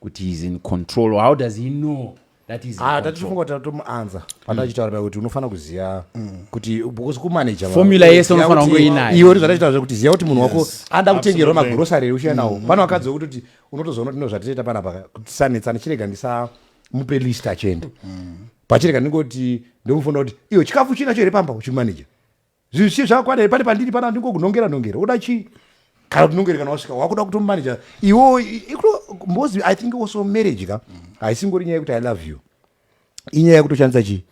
kuti he's in control how does he know that he's in Ah, control? tatifunga kuti tomuanza patachitaura paya kuti unofanira kuziva kuti because kumaneja vavo, Formula yese ziva unofanira kuti- kunge uinayo. iwe ndozvatachitaura kuti ziva kuti munhu wako ada kutengerwa absolutely. magrosary uchiya nawo pane vakadzi vekuti kuti unotozoona kuti ndozvatitoita panapa kuti sanetsana chirega ndisamupe list achienda pachirega ndingoti ndomufonera kuti iwe chikafu chinacho here pamba uchimaneja zvinhu zvichii zvakakwana here pane pandiri pana ndingokunongera nongera oda chii kana tinongere kana wasvika wakuda kutomumanija iwo mbozi i think also marriage ka haisingori nyaya yekuti i love you inyaya yekutoshandisa chii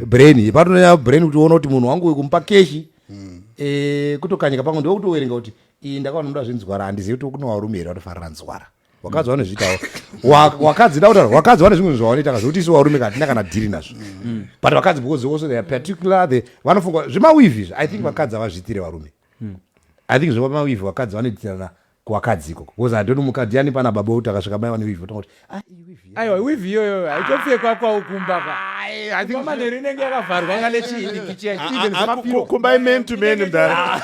brain patononyaya brain kuti uona kuti munhu wangu uyu kumupa keshi hmm. eh, kutokanyika pamwe ndokutowerenga kuti iyi ndakaona muda zvinzwara handizivi kuti kunowarume here vatofarira nzwara wakadzi vanozviitawo wakadzi da kutaura wakadzi vane zvimwe zvavanoita ka zvekuti isu varume katina kana dhiri nazvo mm. but vakadzi because also they are particular they vanofunga zvemawivi izvi i think mm. vakadzi havazviitire varume mm. i think zvemawivi vakadzi vanoitirana kuvakadzi ikoko because i don't mukadzi yani pana baba uti akasvika mai vane wivi otanga kuti ah iwivi aiwa wivhi iyoyo haitopfekwa kwau kumba kwamanheru inenge yakavharwa nga nechiikichikumbai man to man mdara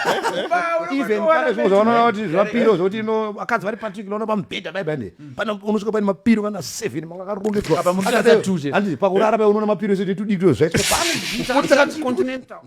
even pane zvimwe zvavanoona kuti zvimapiro zvokuti ino vakadzi vari patrick noona pamubhedha dai bane pane unosvika paine mapiro kana seven manga akarongedzwa pakurara pai unoona mapiro sezvitudikiro zvaitwa pano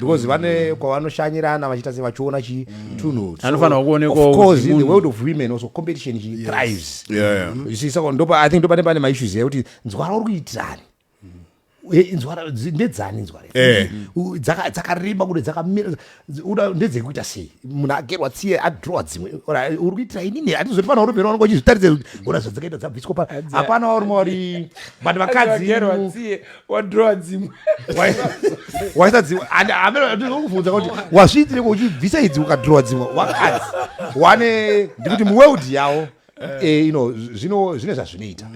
because mm. vane kwavanoshanyirana vachiita se vachiona chi mm. tunhu anofanira kuonekwa of course in the world of women also competition chi thrives you see saka ndopa i think ndopane pane ma issues ekuti nzwara uri kuitirani eh, nzwara ndedzani nzwara eh. dzakareba kuti dzakamira uda ndedzekuita sei munhu agerwa tsiye adrowa dzimwe uri kuitira inini atizoti pana urumberi wanonga uchizvitaridza kuti ona zvadzakaita dzabviswa pa hapana wauri mwauri but vakadzi wadrowa dzimwe waisa dzimwe andikuvhunza kuti wazviitire kuchibvisa idzi ukadrowa dzimwe wakadzi wane ndikuti muworld yawo eh, you know, zvino zvine zvazvinoita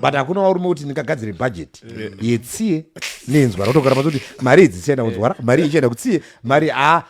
but hakuna warume kuti ndingagadzire budget yetsiye nenzwa rotogara pazi kuti mari idzi chienda kunzwara mari ichienda kutsiye mari a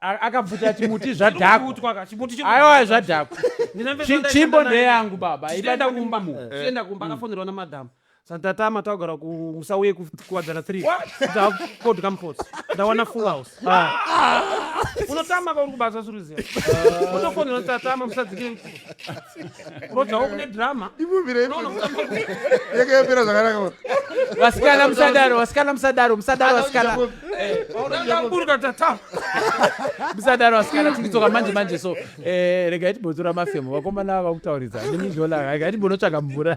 A- akabvuta chimuti zvadhakwa Kutwa ka, chimuti chino- aiwa zvadhakwa Ndine mfesi Chi- wandaienda chimbo naye. ndeyangu baba Tichienda ibata kumba. kumba mumu Tichienda kumba akafonerwa namadam santatama tagara kumusauye kuwadzana 3 takodya mupotsi ndawana full house unotama kauri kubasa suruziya utofonerwa tatama musadzikire vasikana musadaro vasikana musadaro musadaro vasikana eh, musadaro vasikana tikitsoka manje manje so eh, regai timbotora mafemo vakomana vava kutauridzana nemizhola regai timbonotsvaga mvura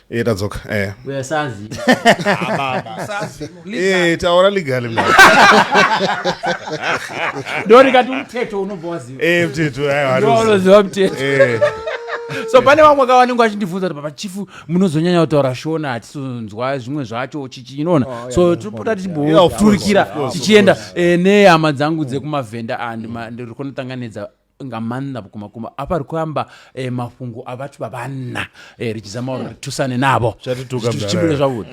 Eh, tadzoka eh. We're sazi. Eh, taura legally mna. Ndo ndikati umthetho unobva waziva. Eh, mthetho hayi Ndo wanoziva. unoziva mthetho. Eh. so pane vamwe ka vanenge vachindibvunza kuti baba chifu munozonyanya kutaura shona hatisonzwa zvimwe zvacho chichi inoona Oh, yeah, so yeah, tinopota yeah, yeah, tichimboturikira of course, of tichienda course. eh, nehama dzangu dzekumavhenda and ma- ndiri kunotanganidza nga manna vhukuma kuma apa ri kuyamba eh, mafhungo a vhathu vha vhanna eh, ri tshi zama uri ri thusane navho zvichibile zwavhuḓi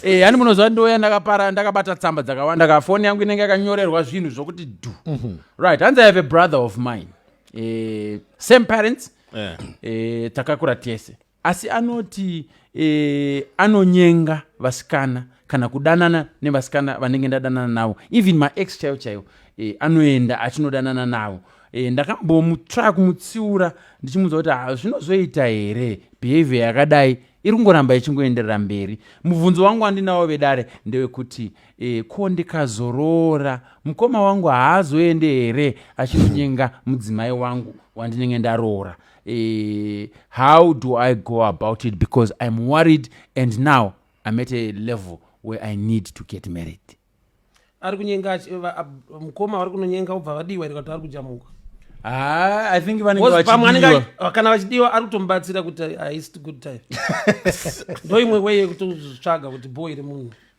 eh, hani muno zwa ndoya ndakapara ndakabata tsamba dzakawanda ka foni yangu inenge yakanyorerwa zvinhu zvokuti du mhm. right hanzi i have a brother of mine eh, same parents eh. eh, takakura tese Asi anoti e, anonyenga vasikana kana kudanana nevasikana vanenge ndadanana navo even maex chaivo chaivo e, anoenda achinodanana navo e, ndakambomutry kumutsiura ndichimuudza kuti ah, zvinozoita here behavior yakadai iri kungoramba ichingoenderera mberi mubvunzo wangu andinawo vedare ndewekuti e, ko ndikazoroora mukoma wangu haazoende here achinonyenga mudzimai wangu wandinenge ndaroora uh, how do i go about it because i'm worried and now i'm at a level where i need to get married ari kunyenga mukoma vari kunonyenga ubva vadiwa iri kati ari kujamuka ah, i think vanenge kana vachidiwa ari kutomubatsira kuti haisi good time ndoimwe weye yekutotsvaga kuti bho iri munhu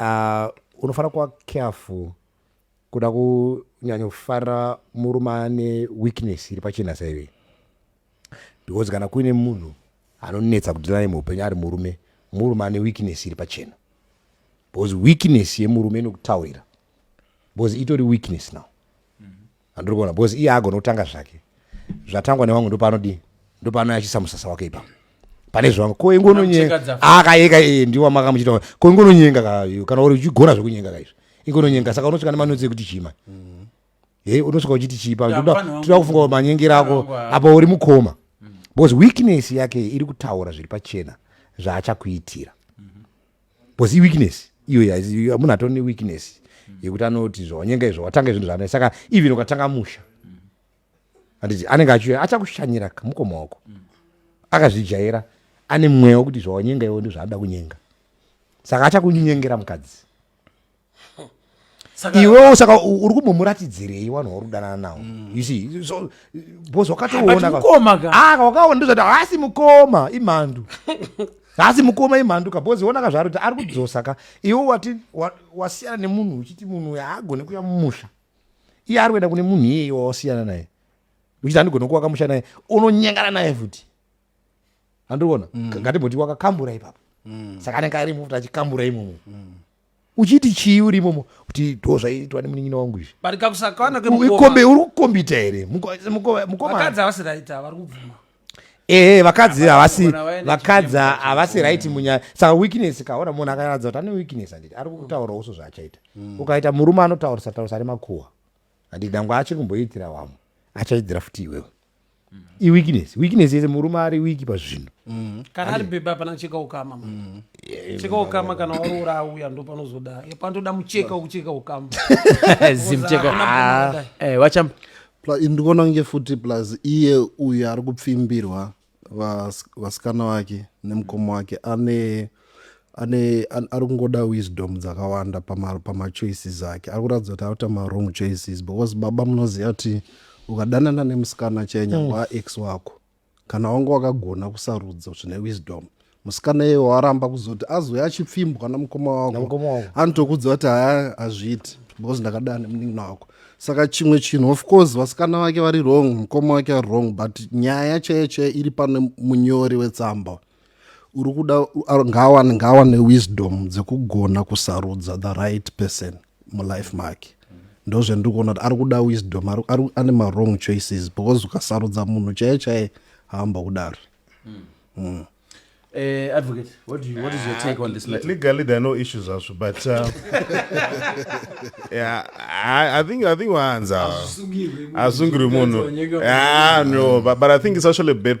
uh, unofanira kuva careful kuda kunyanya kufarira murume ane weakness iri pachena saive because kana kuine munhu anonetsa kudhila naye muupenyu ari murume murume ane weakness iri pachena because weakness yemurume inokutaurira because itori weakness now Handiri kuona because iye agona kutanga zvake. Zvatangwa nevamwe ndopaanodii? Ndopaano achisa musasa wake ipa. Pane zvangu ko ingo nonyenga. Akayeka ah, iye ndiwa maka muchita. Ko ingo nonyenga ka you kana uri uchigona zvekunyenga ka izvo. Ingo nonyenga saka unosvika nemanotsi ekuti chima. Mm. Hey, unosvika uchiti chipa. Tinoda kufunga manyengera ako apa uri mukoma. Mm. Because weakness yake iri kutaura zviri pachena zvaachakuitira. bcause iweakness iyoyo munhu atoo neweakness yekuti anoti zvawanyenga izvo watanga zvinhu zvaana saka even ukatanga musha anditi anenge achiuya achakushanyira kamukoma wako akazvijaira ane mweya wekuti zvawanyenga iwo ndizvaanoda kunyenga saka achakunyengera mukadzi iwewo saka uri kumbomuratidzirei vanhu vauri kudanana nawo mm. you see so bos wakatoona ah, wakaona ndozvati haasi mukoma imhandu haasi mukoma imhandu ka bos ona ka zvaari kuti ari kudzosa ka iwe wati wasiyana nemunhu uchiti munhu uyo haagone kuya mumusha iye ari kuenda kune munhu iyeye wawasiyana naye uchiti handigone kuwaka musha naye unonyengana naye futi handikuona mm. ngatimboti wakakambura ipapo mm. saka anenge ari mufuti achikambura imomo uchiti chii uri imomo kuti ndo zvaiitwa nemunin'ina wangu izvi but kakusakwana kwemukombe uri kukombita here mukomavakadzi havasi right vari kubvuma ehe vakadzi havasi vakadzi havasi right munyaya saka weakness kaona munhu akaratidza kuti ane weakness handiti ari kutaura uso zvaachaita hmm. ukaita murume anotaurisa taurisa ari makuwa handiti dangwe achiri kumboitira wamwe achaidzira futi iwewe iweakness weakness yese murume ari wiki pazvinhu mm. kana ari bhebha pana cheka ukama mm. cheka ukama kana waroora auya ndo panozoda panotoda mucheka wekucheka ukama zimcheka ah, eh, wachamba ndikuona kunge futi plus iye uyu ari kupfimbirwa vasikana vake nemukoma wake ane ane ari kungoda wisdom dzakawanda pamachoices pama ake ari kuratidza kuti akuita mawrong choices because baba munoziva kuti ukadanana nemusikana chenya mm. waaex wako kana wanga wakagona kusarudza zvine wisdom musikana iye waramba kuzoti azouya achipfimbwa namukoma wako anotokudza kuti haya hazviiti because ndakadana nemunin'ina wako saka chimwe chinhu of course vasikana vake vari wrong mukoma wake ari wrong but nyaya chaiyo chaiyo iri pane munyori wetsamba uri kuda ngawane ngawane wisdom dzekugona kusarudza the right person mulife make ndozvendiri kuona kuti ari kuda wisdom ane mawrong choices because ukasarudza munhu chaiye chaiye haamba kudari mm. Mm. Uh, advocate, what, do you, what is your take on this matter? Legally, there are no issues also, but uh, yeah, I, I think I think Wanza Asungiri Mono. Yeah, no, but, but I think it's actually a bad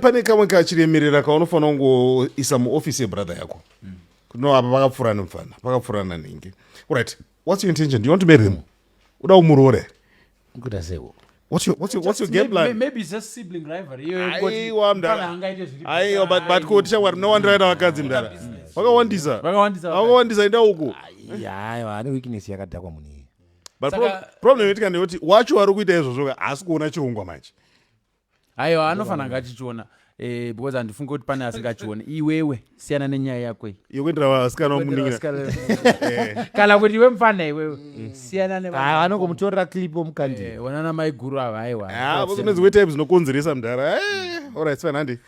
pane kamwe kachiremerera kaunofanira kungoisa muofisi yebrother yako mm. no apa pakapfurana mfana pakapfurana nhingi right what's your intention do you want to marry him uda umuroore kuda seko What's your, what's your, what's your game plan? Maybe it's just sibling rivalry. Aiwa mdara. Aiwa but but kuti shamwari munowandiraira vakadzi mdara. Vakawandisa. Vakawandisa. Vakawandisa enda uko. Aiwa ane weakness yakadhakwa munhu iye. But problem yetika ndeyoti wacho wari kuita izvozvo haasi kuona chirongwa manje. aiwa anofanira kunge achichiona eh, because handifunge kuti pane asingachione iwewe siyana nenyaya yako iyi Iyo kuendera vasikana vamuningira. Eh. kana kuti iwe mfana iwewe siyana ne Ah, anongomutorera clip omukandira Eh, onana maiguru ava aiwa Ah, kune dzimwe type dzinokonzeresa mdhara. Eh, all right, fine handi.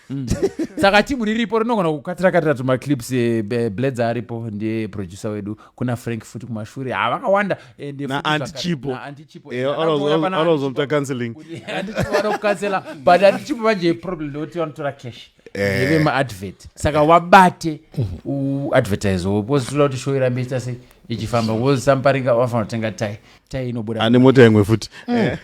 saka timu riripo rinogona kukatira katira tumaclips eh, be- bledza aripo ndiye producer wedu kuna frank futi kumashure ha vakawanda endeantichipoanozomta counseling vanokukansela but antichipo manje problem ndekuti vanotora cash eh. eve maadvert saka wabate uadvertise wo because toda kuti show irambe ichita sei ichifamba because samparinga wafanira kutenga tai tai inobuda ane mota imwe futi mm. eh.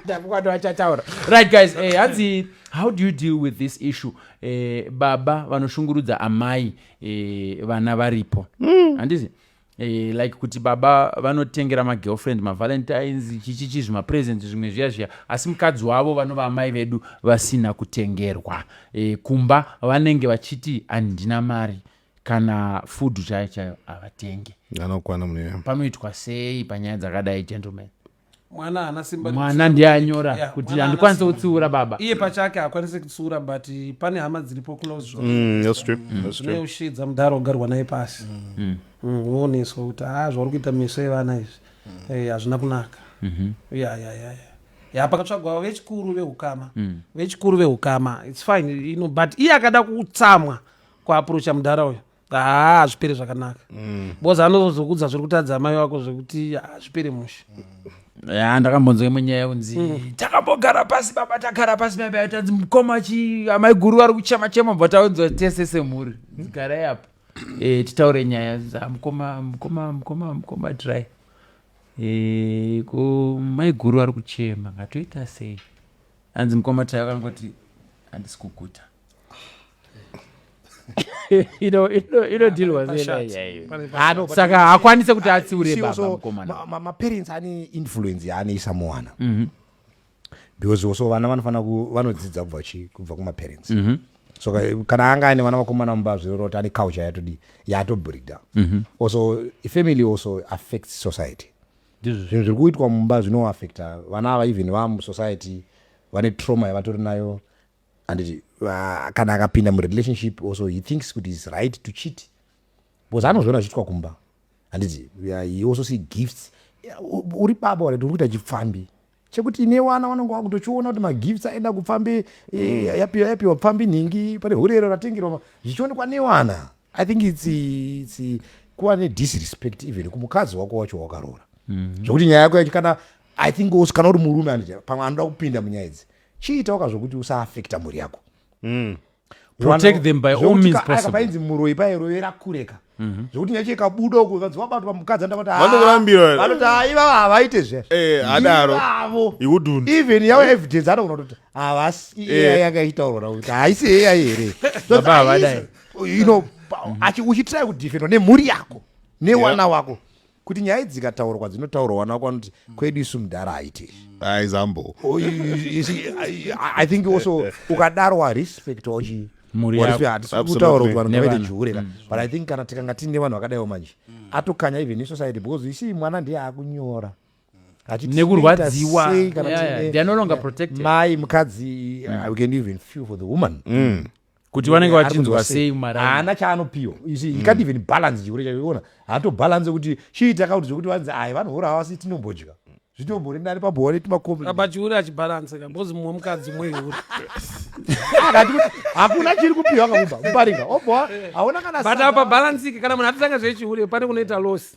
ndakukwati vachataura right guys eh, hanzi how do you deal with this issue eh, baba vanoshungurudza amai eh, vana varipo mm. handizi mm. Eh, like kuti baba vanotengera magirlfriend mavalentines chichichi zvimapresent zvimwe zviya zviya asi mukadzi wavo vanova amai vedu vasina kutengerwa eh, kumba vanenge vachiti handina mari kana food chayo chayo havatenge anokwana mune panoitwa sei panyaya dzakadai gentleman mwana haana simba mwana ndiye anyora yeah, kuti handikwanise kutsiura baba iye pachake haakwanise kutsiura but pane hama dziripo close zvozvinoushiidza mm, mm, mudhara ogarwa naye pasi mm. uoneswa kuti ha ah, zvauri kuita meso evana izvi eh, hazvina kunaka mhm. ya ya ya ya pakatsvagwa vechikuru veukama vechikuru veukama its fine ino but iye akada kutsamwa kuaprocha mudhara uyo haa hazvipere zvakanaka mm. bcoz anozokudza zviri kutadza amai wako zvekuti hazvipere mushe ya ndakambonzwa imwe nyaya yekunzi mm. takambogara pasi baba tagara pasi maibai tanzi mukoma chi amai guru vari kuchema chema bva taunzwa tese semhuri garai apo e, titaure nyaya mukoma mukoma mukoma mukoma dry e, ko mai guru vari kuchema ngatoita sei anzi mukoma dry vakangoti handisi kuguta inodhilwa saka hakwanise kuti atsiure baba mukomana maparents ane influence yaanoisa muwana mhm. because also vana vanofanira vanodzidza kubva chi kubva kumaparents mm -hmm. so kana anga aine vana vakomana mumba zviroroti ane culture yatodi yatobreakdown mm -hmm. also family also affects society zvinhu zviri kuitwa mumba zvinoaffecta vana ava even vamusociety vane trauma yavatori nayo handiti uh, kana akapinda murelationship also he thinks kuti is right to cheat because anozviona zviitwa kumba handiti uh, he also see gifts uh, uri baba uri kuita chipfambi chekuti ine wana vanonge vakutochiona kuti magifts aenda kupfambi eh, yapiwa yapiwa pfambi nhingi pane hurero ratengerwa zvichionekwa newana i think its, its kuva nedisrespect even kumukadzi wako wacho wakaroora mm -hmm. zvekuti nyaya yako yacho kana i think also kana uri murume anditi pamwe anoda kupinda munyaya idzi chiitawo ka zvokuti usaaffecta mhuri yako mm. protect them by all means possible painzi muroyi pairovera kureka mhm. zvekuti nyaya chikabuda uko kanzi wabatwa mukadzi andakutivanokurambira vanoti aiva havaite zveadaro eh, even yavo evidence anogona kutoti havasi eh. iya yanga ichitaurwa kuti haisi iya here ino mm. uchitrai kudefendwa nemhuri yako newana wako kuti nyaya dzikataurwa dzinotaurwa wana wako anoti kwedu isu mudhara haite aizambo oh, i think also ukadaro arespect wachi muriatisikuutaurauaaihure mm. but i think kana tikanga tiine vanhu vakadaiwo manje mm. atokanya even isociety because isi mwana ndiye akunyora nekurwadziwamai mukadzi mm. uh, we can even feel for the woman mm. kuti vanenge eh, vachinzwa sei haana chaanopiwa you see he can't even balance chikure chacho iona haato balance kuti chiita akakuti zvekuti vanzi ai vanhu vora havasi tinombodya zvitombori nani pabhore timakoabachiuri achibalanseka because mumwe mukadzi mweuri hakuna chiri kupiwa kakuba mubarika obhoa haona kana but apa balansike kana munhu atitanga zvechihure pane kunoita losi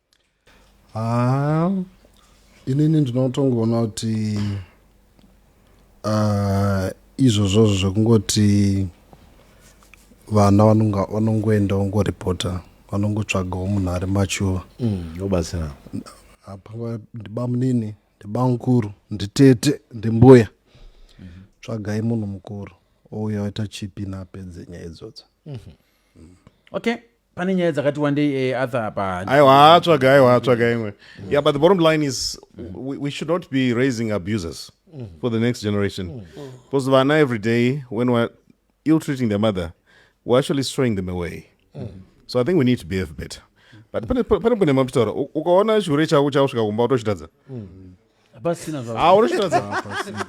Haa inini ndinotongoona kuti uh, izvozvozvo zvekungoti vana vanongoenda vongoripota vanongotsvagawo munhu ari machuva obatsira mm, apangwa ndibamunini ndibamukuru nditete ndimbuya mm -hmm. tsvagai munhu mukuru ouya waita chipi naapedze nyaya idzodzo mm -hmm. okay pane nyaya dzakati wandei e eh, arthur apa aiwa tsvaga aiwa tsvaga imwe mm. yeah but the bottom line is we, we should not be raising abusers mm. for the next generation mm. mm. because vana every day when we're ill treating their mother we're actually throwing them away mm. so i think we need to behave better but pane pane pane mapitaura ukaona chihure chako chakusvika kumba utochitadza mm. hapasina zva Ah, unoshitadza hapasina.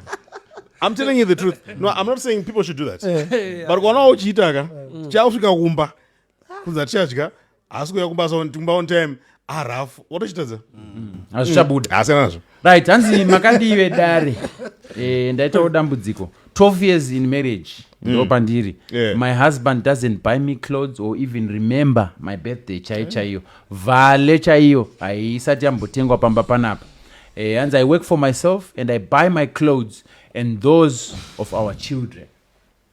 I'm telling you the truth. No, I'm not saying people should do that. But ukaonawo uchiita ka, chakusvika kumba, kunzi hatichadya, haasi kuuya kumba so kumba on time, arafu, watochitadza. hazvichabuda Haasiyana nazvo. right hanzi makadii vedare Eh, ndaitawo dambudziko 12 years in marriage mm. ndopandiri yeah. my husband doesn't buy me clothes or even remember my birthday chai eh. chaiyo vale chaiyo haisati yambotengwa pamba panapa eh, hanzi i work for myself and i buy my clothes and those of our children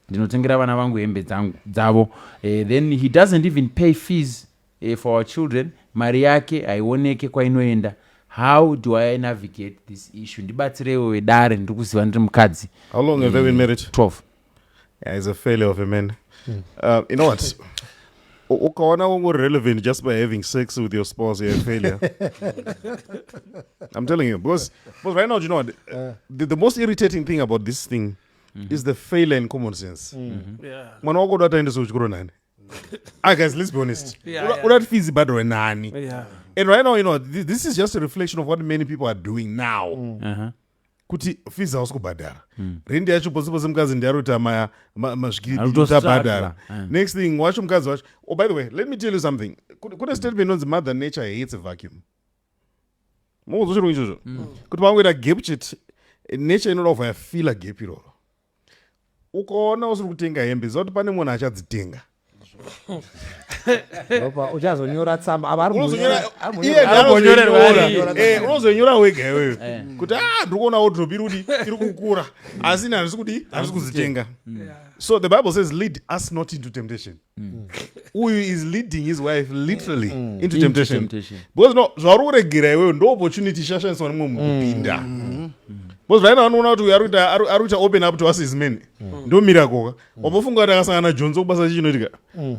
ndinotengera vana vangu hembe dzavo eh, then he doesn't even pay fees for our children mari yake haioneke kwainoenda how do i navigate this issue ndibatsireiwo vedare ndiri kuziva ndiri mukadzi how long have they been married 12 yeah, is a failure of a man mm. uh, you know what ukaona wangu relevant just by having sex with your spouse you're a failure i'm telling you because, because right now you know what, uh. the, the most irritating thing about this thing mm -hmm. is the failure in common sense mm -hmm. yeah. mwana wako uda ataendesa kuchikoro nani Ah, guys, let's be honest. Yeah, Una- yeah. Una fees bado wenani. Yeah. And right now, you know, thi- this is just a reflection of what many people are doing now. Uh-huh. Kuti fees hausi kubhadhara. Rendi yacho pose pose mukadzi ndiye ari kuita ma- ma- mazvikiri Ari kuti kutostruggle. abhadhara. Eh. Next thing, wacho mukadzi wacho. Oh, by the way, let me tell you something. Kune kune statement inonzi mother nature hates a vacuum. Mukuzochirungu ichozvo. Kuti pakuita gap chete, nature inoda kuvaya fila gap iroro. ukaona usiri kutenga hembe zoti pane munhu achadzitenga uchazonyora tsamba unozonyorera eh, wega iwewe eh. kuti a ah, ndiri kuona wodrop iri kuti iri kukura asi ini handisi kuti handisi kuzitenga mm. so the bible says lead us not into temptation mm. uyu is leading his wife literally mm. into temptation, into temptation. because no zvauri kuregera iweyo ndo opportunity ishashandiswa nemwe munhu mm. kupinda mm. mm. because vaina vanoona kuti uyu ari kuita open up to us is many mm. ndo mirakoka mm. wabofunga kuti akasangana jonzo kubasa chichinoitika mm.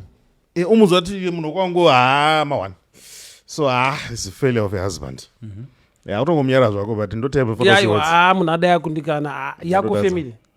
e, eh, umuzwa kuti munhu kwangu haa mawana so haa ah, is a failure of a husband mm -hmm. yeah, utongomunyara zvako but ndotype munhu adai akundikana ah, yako family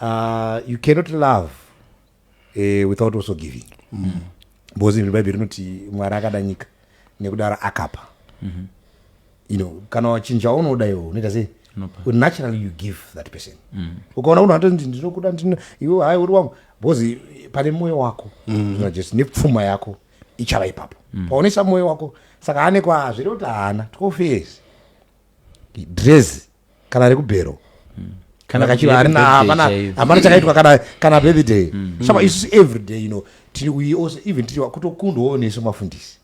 Uh, you cannot love uh, without also giving mm. because even bhaibheri rinoti mwari akada nyika nekudaro akapa mm -hmm. you know kana wachinhu chaunoda iwo unoita sei naturally you give that person mm. ukaona unhu ato ndinokuda iwe hai uri wangu because pane mwoyo wako mm. jesu nepfuma yako ichava ipapo mm. paonesa mwoyo wako saka ane kwazviri kuti haana tokofesi dress kana rekubhero kana kachiva harina hapana hapana chakaitwa kana kana birthday mm. mm. shama isusu every day you know tiri we also even tiri kutokundwawo nesu mafundisi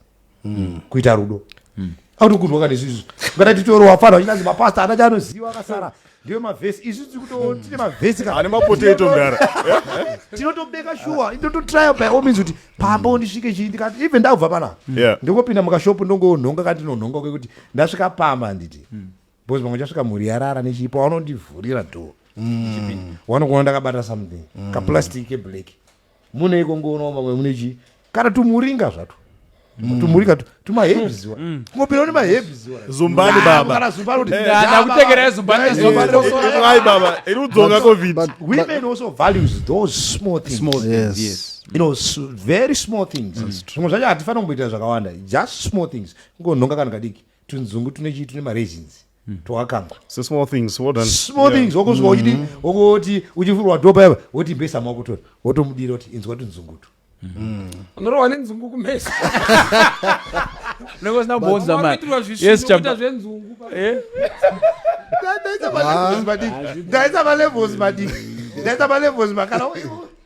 mm. kuita rudo mm. autokundwa kana isusu ngata titoro wafana uchinanzi mapasta ana chaanoziva akasara ndiwe mavhesi isu tiri kuto mm. tine mavhesi kana ane mapotato ndara tinotobeka shuwa inototrya by all means kuti pamba undisvike chii ndikati even ndakubva pana ndingopinda mukashopu ndongonhonga kandinonhonga kwekuti ndasvika pamba handiti mm. because pamwe chasvika mhuri yarara nechipo vanondivhurira door mm. wanokuona ndakabata something mm. kaplastic keblack mune iko ngoonawo mamwe mune chii kana tumuringa zvato mm. tumuringa tumahebziwa mm. ngopirawo nemahebziwa zumbani babakana zumbani kuti ndakutengerai zumbaniai baba iri udzoka covid women also values those small things small things yes you know very small things zvimwe zvacho hatifanira kumboitira zvakawanda just small things kungonhonga kana kadiki tunzungu tune chii tune mareasons hmm. twakakangwa so small things well done small yeah. things wakusvika uchidi hmm. wakoti uchivhurwa dhoba yava woti mbesa makutora wotomudira kuti inzwa tunzungutu hmm. unorowa nenzungu kumesa nekozina kubonza maezvita zvenzungu eh? ndaisa malevels madii ndaisa malevels madii ndaisa malevels makana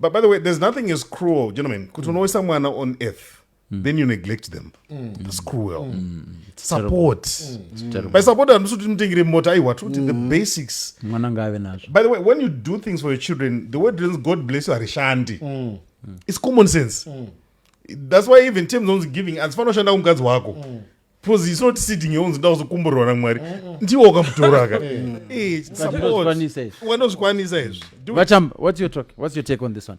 But by the way, there's nothing as cruel, gentlemen, kuti mm. unoisa mwana on earth Mm. then you neglect them mm. that's cruel mm. mm. support mm. by support handisi kuti mutengere mota aiwa toti mm. the basics mwana ngaave nazvo by the way when you do things for your children the word reasons god bless you harishandi mm. it's common sense mm. that's why even terms onzi giving handifanoshanda kumukadzi wako mm. because it's not sitting here unzi ndakuzokomborerwa namwari ndiwo wakamutora ka Eh, support. Unozvikwanisa izvi. wanozvikwanisa izvi Do it. Vachamba, what's your talk? What's your take on this one?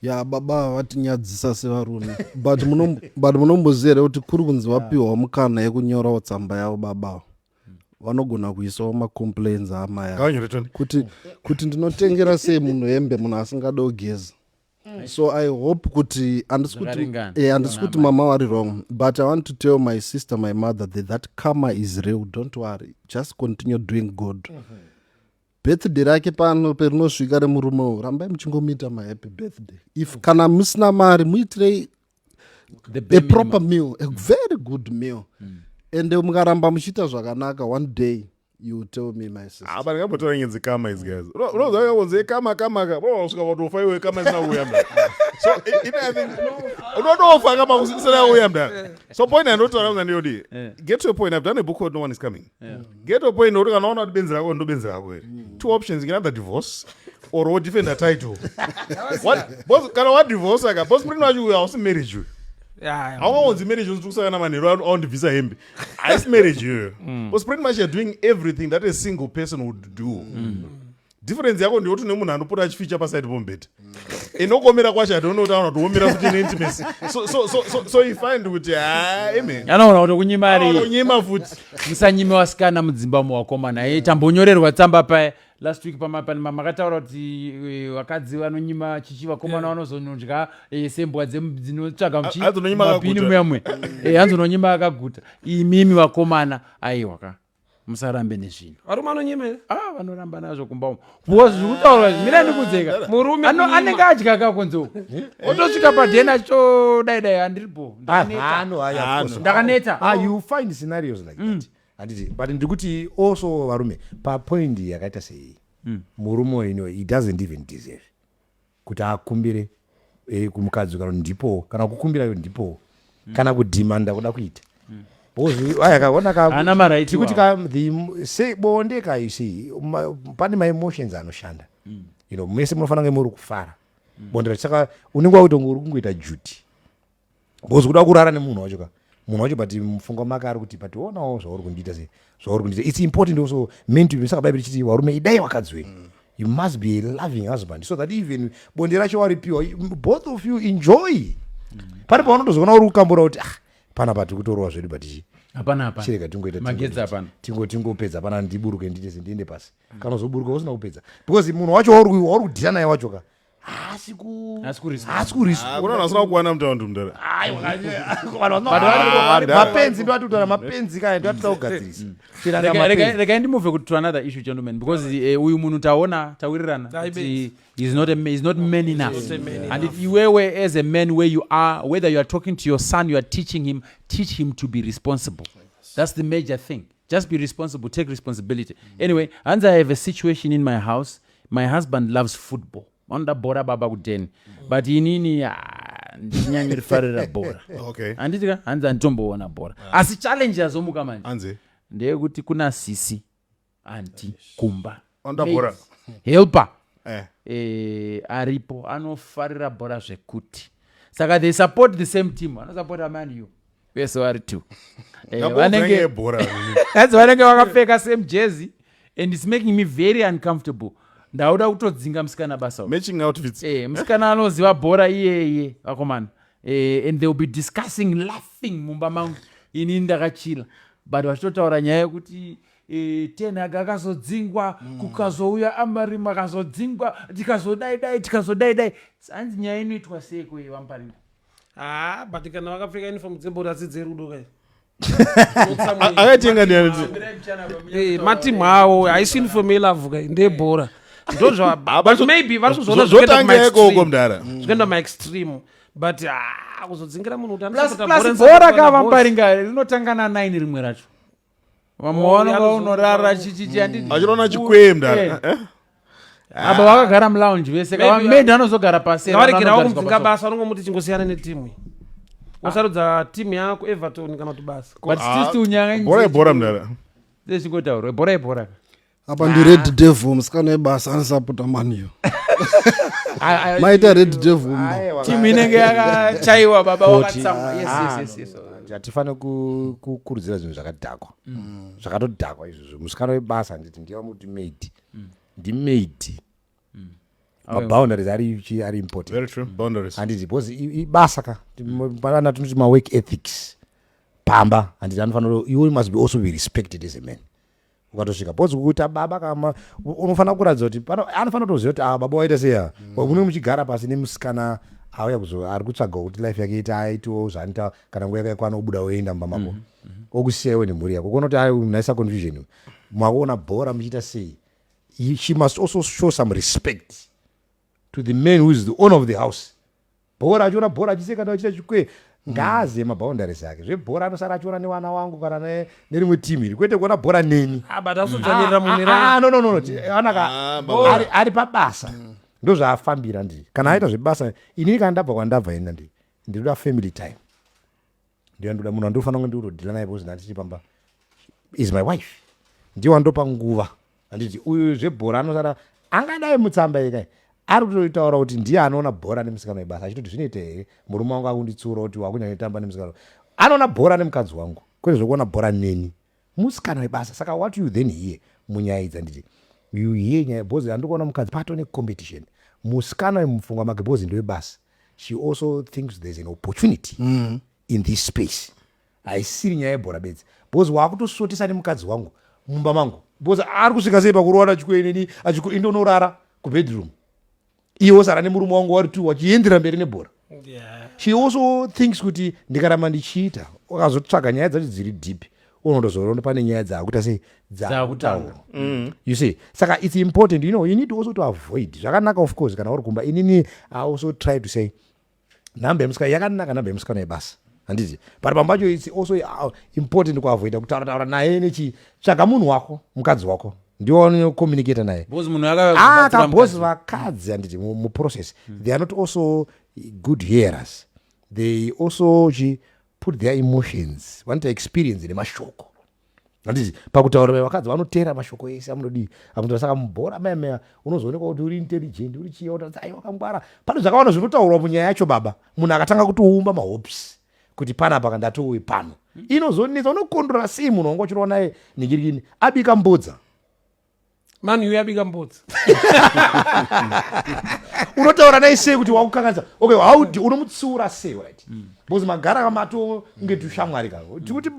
ya baba vatinyadzisa sevarume but munom- but munomboziva here kuti kuri kunzi vapiwa mukana yekunyorawo tsamba yavo baba ava. vanogona kuisawo macomplains aamai ava. Ngavanyore tone. kuti kuti ndinotengera sei munhu hembe munhu asingade kugeza Mm. so i hope kuti andisi eh, kuti mama wari wrong but i want to tell my sister my mother that that karma is real don't worry just continue doing good mm -hmm. birthday rake pano perinosvika remurume u rambai muchingomuita mahappy birthday if kana musina mari muitirei the, the proper meal a very good meal mm. and eh, mukaramba muchiita zvakanaka one day you tell me my sister apa ah, ndingambotora nge dzikama idzi guys unoziva yakonzi ekama kama ka unosvika vatofa iwe kama isina kuuya mda so i think unotofa kama kusina kuuya mda so point yandotaura kuti ndiyodii eh. get to a point i've done a book called no one is coming yeah. get to point kuti kana waona kuti benzi rako ndobenzi rako here mm. two options you can either divorce or wodefend a title kana wadivorce aka bos murino wacho uyo hausi marriage uyo haungaonzi marriage unzi tikusakana manheru aundibvisa hembe haisi marriage iyoyo bcause mm. pretty much you're doing everything that a single person would do mm. difference yako ndeyoti une munhu anopota achificha paside pomubhedha ende ukomira kwacho atione kuti aona kuti womira kuti neintimacy so, so, so, so, so he find kuti haeme anoona kuti kunyima ari kunyima futi musanyime wasikana mudzimba umo wakomana e tambonyorerwa tsamba paye last week pamapanima makataura kuti e, vakadzi vanonyima chichi vakomana vanozonodya e, sembwa dzem- dzinotsvaga hanzi unonyima muchimapini akaguta. muyamwe hanzi unonyima akaguta imimi vakomana aiwa ka musarambe nezvinhu varume anonyemera ah vanoramba nazvo kumba umo because zviri kutaurwa izvi mira ndikudzeka murume Ano- kunyima. anenge adya kakonzo otosvika padheni achitodai dai handiri bo Hano, haya, of course. ndakaneta Ah, you find scenarios like that handiti but ndiri kuti also varume papoint yakaita seiyi murume uyu no, he doesn't even deserve kuti akumbire eh, kumukadzi uyu kana kuti ndipowo kana kukumbira iwe ndipowo kana kudhimanda kuda kuita Wozi- aya kaona ka- Haana marights tikuti ka the m- se- bonde ka you see ma- pane maemotions anoshanda you know mese munofanira kunge muri kufara bonde racho saka unenge wakutonge uri kungoita duty because kuda kurara nemunhu wacho ka munhu wacho but mufunga make ari kuti but onawo zvauri kundiita se zvauri kundiita its important also men to be saka bhaibheri chiti varume idai vakadzi wenyu mm. you must be a loving husband so that even bonde racho waripiwa both of you enjoy mm. pane paunotozoona uri kukambura kuti ah pana pati kutorowa zvedu but chii hapana hapana chirega tingoita magetsi hapana tingo tingopedza hapana ndiburuke nditese ndiende pasi mm. kana uzoburuka usina kupedza because munhu wacho wauri wauri kudhira naye wacho ka haasi ku Haasi kurespond. haasi kurespond. unoona vasina kuwana mutaundi mudhara Ayi, wakati- vanhu Vanhu vari- vari- vari- mapenzi ndoatutaura mapenzi kaya ndoatita kugadzirisa Tiranga Rega- rega- mapenzi. regai ndimove kuti to another issue gentlemen because eh, uyu munhu taona tawirirana Dai kuti he's not, a, ma- he's not man enough He's not a man and enough. if iwewe as a man where you are whether you are talking to your son you are teaching him teach him to be responsible that's the major thing just be responsible take responsibility anyway hanzi i have a situation in my house my husband loves football vanoda bhora baba kudheni but inini ndichinyanyo rifarira bhora handiti ka hanzi handitomboona bhora ah. asi challenge yazomuka manje ndeyekuti kuna sisi anti kumba helper eh. Eh, aripo anofarira bhora zvekuti saka they support the same team anosapota man you vese vari two Eh, Nako vanenge- kupenya yebhora vanini. that's vanenge vakapfeka same jersey and its making me very uncomfortable ndauda kutodzinga musikana basa uyu. matching outfits Eh, musikana anoziva bhora iyeye vakomana Eh, and they will be discussing laughing mumba mangu ini ndakachila but vachitotaura nyaya yekuti eh, ten hag akazodzingwa kukazouya amarim akazodzingwa tikazodai dai tikazodai dai hanzi nyaya inoitwa sei kwei vamuparinda haa but kana vakapfeka uniform dzebhora asi dzerudo kai akatenga eh, matimu awo haisi uniform yelavu kai ndeyebhora ndozvamaybe vari kuzoona zvotanga ikoko mdara zvikuenda maextreme but ah, kuzodzingira munhu kuti anosapotabhora kavambaringa rinotanga na9 rimwe racho vamwe vaona vaunorara chichichiachinoona mm. chikwemda eh. eh, eh. Ah. apa vakagara mulounge vese kavamedi anozogara pasiaregerawo kumubvunga basa anongomuti chingosiyana netimu wasarudza timu yako everton kana kuti basa but still ah, unyanga bora ibora mdara zvezvingotaurwa bora ibora apa ndi red devil musikana webasa anosapota maniyo maita red devil timu inenge yakachaiwa baba wakatsamwa hatifanire kukurudzira zvinhu zvakadhakwa mm. zvakatodhakwa izvozvo musikana webasa handiti ndiye vamuti maid mm. ndimaid mm. maboundaries ari ari importanthanditi because ibasa ka ana tinoti mawork ethics pamba handiti anofanira you must be also be respected as a man ukatosvika because kuita baba kama unofanira kuratidza kuti anofanira kutoziva kuti ava ah, baba waita seya mm. unenge muchigara pasi nemusikana auya kuzo ari kutsvaga kuti life yake ita aitiwo zvaanoita kana nguva yake kwana obuda oenda mumba mako mm-hmm. mm-hmm. okusiya iwe nemhuri yako kuona kuti ai unaisa confusion makuona bhora muchiita sei she must also show some respect to the man who is the owner of the house Bhora achiona bhora achiseka navo achiita chikwee ngaazive maboundaries ake zvebhora anosara achiona nevana wangu kana ne- nerimwe team iri kwete kuona bhora neni Ah, but asodzvanirira mumwe Ah, ah, ah, no, no, no, no. Ti- anaka Ah, baba. ari- ari pabasa ndozvaafambira ndii kana aita zvebasa inini kana ndabva kwandabva ini ndii ndinoda family time ndiye ndoda munhu andofanira kunge ndikutodhila naye because ndatiri pamba is my wife ndiye wandopa nguva anditi uyu zvebhora anosara angadai mutsamba yekai ari kutoitaura kuti ndiye anoona bhora nemusikana webasa achitoti zvinoita here murume wangu akunditsiura kuti wakunyanya kutamba nemusikana anoona bhora nemukadzi wangu kwete zvekuona bhora neni Musikana webasa saka what you then here munyaya idzi handiti you here nyaya because handiri kuona mukadzi pato ne competition musikana uyu mupfungwa make because ndewebasa she also thinks there's an opportunity mm. in this space haisiri nyaya yebhora bedzi because waakutosotesa nemukadzi wangu mumba mangu because ari kusvika sei pakurowana chikueneni achikuindonorara kubedroom iye wosara nemurume wangu wari two wachiendera mberi nebhora she also thinks kuti ndikaramba ndichiita ukazotsvaga nyaya dzacho dziri deep unondozoona pane nyaya dzaakuita sei dzaakutaura mm. you see saka its important you know you need also to avoid zvakanaka of course kana uri kumba inini i also try to say nhamba yemusikana yakanaka nhamba yemusikana yebasa handiti but pamba pacho its also uh, important kuavoida kutaura taura naye nechi tsvaga munhu wako mukadzi wako ndiwo anocommunicata naye akabozi ah, vakadzi handiti muprocess hmm. they are not also good hearers they also chi put their emotions vanoita experience nemashoko handiti pakutaura mai vakadzi vanoteera mashoko ese amunodii akunzwa saka mubhora mai meya unozoonekwa kuti uri intelligent uri chiya utatsa ai wakangwara pane zvakawanda zvinotaurwa munyaya yacho baba munhu akatanga kutoumba mahopes kuti pana paka ndatouye pano inozonetsa unokondora sei munhu wanga uchirova naye ningirikini abika mbudza manhu iwe yabika mbudzi unotaura naye sei kuti wakukanganisa okay how do unomutsiura sei right mm. because magara kamato kunge tushamwari ka tikuti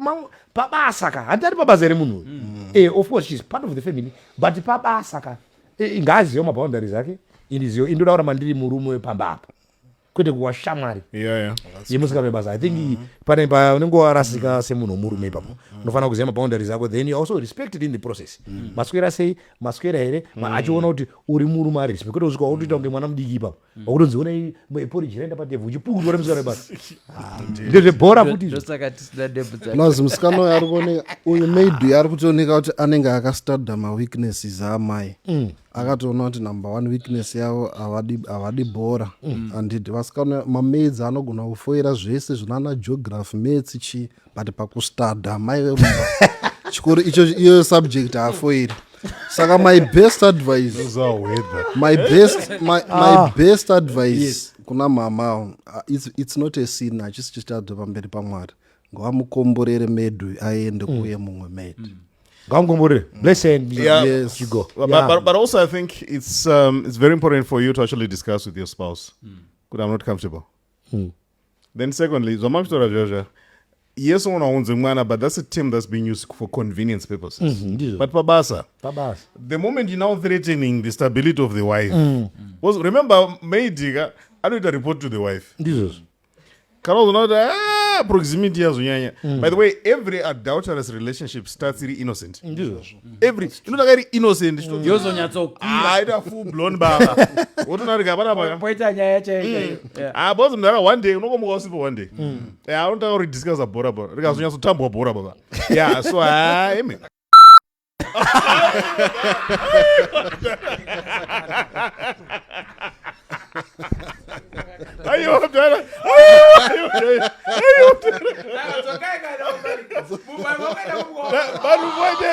pabasa ka handi ari pabasa here munhu uyu mm. eh, of course she's part of the family but pabasa ka eh, ngaazive maboundary zake indizive indoda kura mandiri murume wepamba apa kwete kuwa shamwari yeah, yeah. yemusikana webasa i think mm -hmm. pane paunenge warasika mm -hmm. semunhu womurume ipapo mm -hmm. unofanira kuziva maboundaries ako then you also respected in the process mm -hmm. maswera sei maswera here mm -hmm. achiona kuti uri murume ari respect kwete usvika wakutoita kunge mwana mudiki ipapo mm -hmm. wakutonzi onai eporiji raenda patevhu uchipukutwa nemusikana webasa ah, ndezvebhora futi plus musikana uyo ari kuoneka uyu maybe ari kutooneka kuti anenge akastadha maweaknesses amai mm. akatoona kuti number one weakness yavo havadi bhora mm. andidi vasikana mamaids anogona kufoira zvese zvinana geography mats chii but pakustada mai vemumba chikoro icho iyoyo subject haafoiri saka my best advice my best, my, my ah. best advice yes. kuna mama uh, it's, it's not a sin hachisi chitadzwa pamberi pamwari ngavamukomborere medu aende mm. kuye mumwe medu mm. ngavamukomborere mm. bless and yeah. yes. you go but, yeah. but, but also i think it's, um, it's very important for you to actually discuss with your spouse mm. kuti i'm not comfortable mm. then secondly zvamamitotaura zviyazvaya yes unogona kunzi mwana but that's a term that's being used for convenience purposes mm -hmm, but pabasa pabasa the moment you now threatening the stability of the wife mm. was remember maidika anoita report to the wife ndizvozvo kana uzoona kuti ah, proximity yazonyanya mm. by the way every adulterous relationship starts iri innocent every inotanga iri innocent mm. yozonyatsoaita ah, full blown baba wotonarika hapana papoita nyaya yachaika mm. ah, bcause mdara one day unokomuka usipo one day anotanga kuri discussa bhora bhora rikazonyatsotambwa bhora baba ya so amen Ayo mdala. Vanhu vote.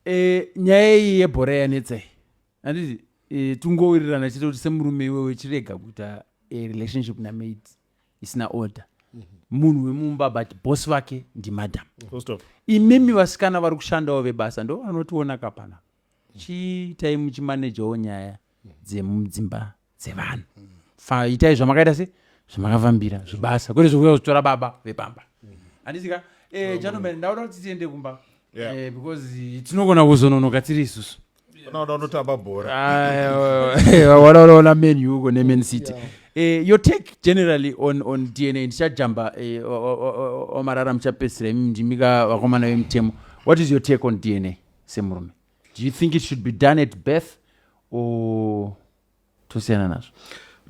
Eh, nyaya iyi yebhora yanetsei handiti e, tungowirirana chete kuti semurume iwewe chirega kuita e, relationship namaid isina order mhm. munhu wemumba but boss vake ndimadam imimi vasikana vari kushandawo vebasa ndo vanotiona kapana chiitai muchimanejawo nyaya dzemudzimba dzevanhu fa itai zvamakaita se zvamakavambira zvibasa kwete zvekuuya kuzotora baba vepamba handisika eh, gentlemen ndauda kuti tiende kumba Yeah. Eh, because eh, tinogona kuzononoka tiri isusu unoda unotamba bhora wanaonaona man u uko neman city Eh, your take generally on, on dna ndichajamba eh, o- o- o- o- omarara muchapedzisira imi ndimika vakomana vemutemo what is your take on dna semurume do you think it should be done at birth or tosiyana nazvo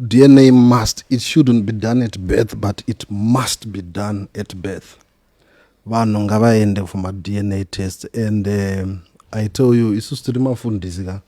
dna must it shouldn't be done at birth but it must be done at birth vanhu ngavaende for madna test and um, i tell you isusu tiri mafundisi ka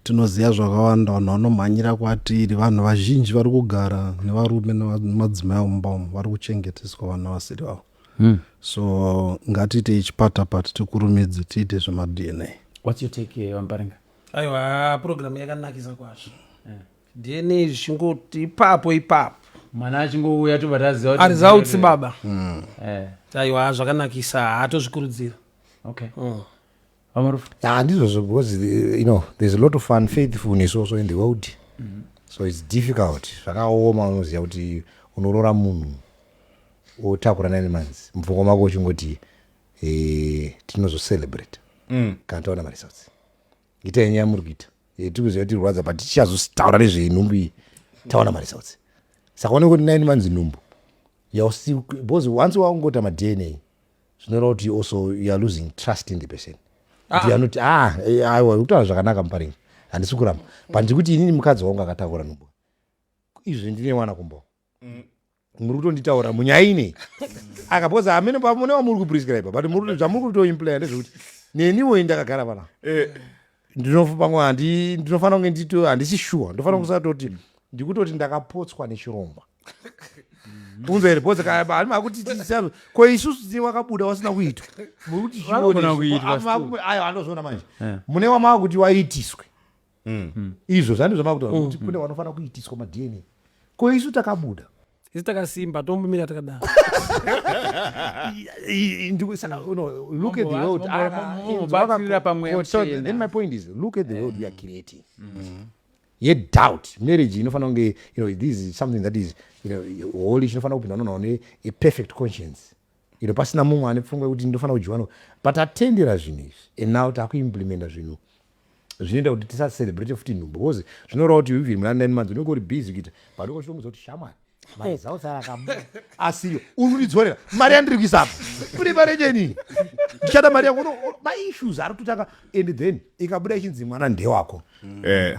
tinoziva zvakawanda vanhu vanomhanyira kwatiri vanhu vazhinji vari kugara nevarume nemadzimai omumba umu vari kuchengeteswa vana vasiri vavo mm. so ngatiite ichipata pati tikurumidze tiite zvemadna whats your take eh, vambaringa aiwa program yakanakisa kwazvo eh. dna zvichingoti ipapo ipapo mwana achingouya tobva taziva ari zautsi baba hmm. eh. aiwa zvakanakisa hatozvikurudzira okay mm. handizvozvo because you know there's a lot of unfaithfulness also in the world mm -hmm. so it's difficult zvakaoma unoziva kuti unorora munhu otakura nine months mupfungwa mako uchingoti eh, tinozocelebrate mm. kana taona maresults itai nyaya muri kuita eh, tiri kuziva tirwadza but tichazotaura nezvenhumbu iyi taona maresults saka one kuti nine months nhumbu because once waungota madna zvinoreva kuti you also you are losing trust in the person ah. kuti anoti ah eh, aiwa kutaura zvakanaka muparingi handisi kuramba but ndiri kuti inini mukadzi wangu akatakura nhumbu izvi ndine mwana kumbo mm. muri kutonditaura munyaya inei aka because amene pamune wamuri kuprescribe but zvamuri kutoimplaya ndezvekuti neniwo ini ndakagara pana eh. ndinopamwe handi ndinofanira kunge ndito handisi shuwa ndofanira mm. kusatoti mm. ndikutoti ndakapotswa nechirongwa unza here bhoze kaani akuti tisano ko isusu tine wakabuda wasina kuitwa mukutiayo anozviona manje eh. mune wamava kuti waitiswe mm. izvo zvandizvamava kuti kune wanofanira kuitiswa madna ko isu takabuda isi takasimba tombomira takadaro I- i- ndiku- saka, you know, look at the world. Mambo vacho, Ah, mambo inzwa vabatsirira kako- pamweya so muchena. then my point is look at the world we are creating yet doubt marriage inofanira kunge you know this is something that is you know holy chinofanira kupindwa nonawo ne a perfect conscience iro pasina mumwe ane pfungwa yekuti ndinofanira kudyiwa no but tatendera zvinhu izvi and now takuimplementa zvinhu zvinoita kuti tisacelebrate futi nhumbu because zvinoreva kuti even muna nine months unenge uri busy kuita but ukochitomudza kuti shamwari mari dzausara akabuda asiyo unondidzorera mari yandiri kuisa apa kune mari yenyenii ndichada mari yako maissues ari kutotanga and then ikabuda ichinzi mwana ndewako eh.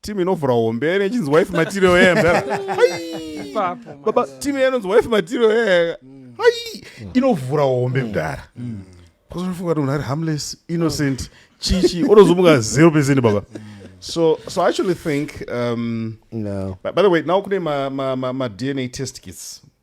team inovhura hombe yaive ichinzi wife material yeye baba team yainonzi wife material yeye hai inovhura hombe mdara kwazonofunga kuti munhu ari harmless innocent chichi onozomuka zero percent baba so so i actually think um no. by, by the way now kune madna ma, ma, ma test kits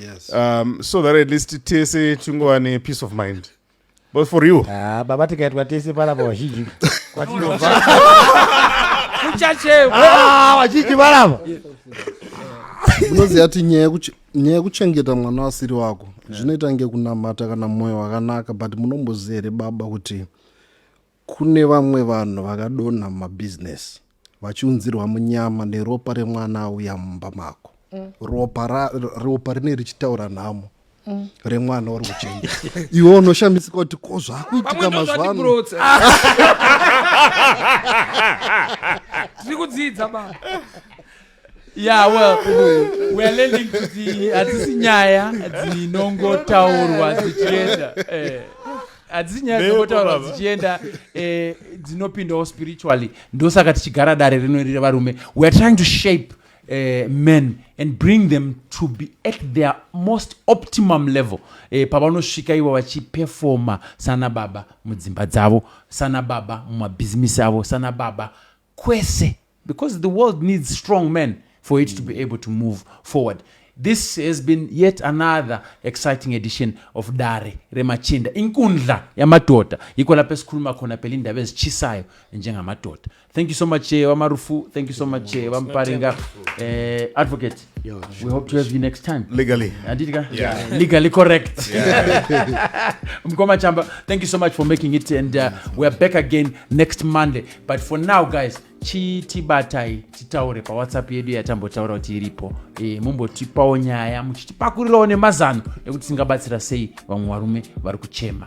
yes. um, so that at least tese tingova nepeace of mind but for you ah, baba tikaitwa tese panapa vazhinji kwatinobva kuchachekwa ah, vazhinji panapa unoziva ti nyaya yekuchengeta mwana asiri wako zvinoita nge kunamata kana mwoyo wakanaka but munomboziva here baba kuti Kune vamwe vanhu vakadonha mumabusiness vachiunzirwa munyama neropa remwana auya mumba mako mm. ropa, ra, ropa rine richitaura nhamo mm. remwana uri kuchenja iwe unoshamisika kuti ko zvakuitika mazuva ano tiri kudzidza ba yeah well weare lending kuti hadzisi nyaya dzinongotaurwa dzichienda eh, hadzisi nyaya dzinongotaurwa dzichienda eh, dzinopindawo spiritually ndosaka tichigara dare rino riri varume weare trying to shape Uh, men and bring them to be at their most optimum level uh, pavanosvika ivo vachipefoma sana baba mudzimba dzavo sana baba mumabhizimisi avo sana baba kwese because the world needs strong men for it to be able to move forward this has been yet another exciting edition of dare remachinda inkundla yamadhodha iko lape sikhuluma khona phela indaba ezitshisayo njengamadhodha thank you so much eh, wamarufu thank you so much eh, wamparinga eh, advocate Yo, we hope to have you next time legally handiti ka Yeah. legally correct mkoma chamba thank you so much for making it and uh, we are back again next monday but for now guys chitibatai titaure pawhatsapp yedu yatambotaura kuti iripo e, mumbotipawo nyaya muchitipakurirawo nemazano ekuti tingabatsira sei vamwe varume vari kuchema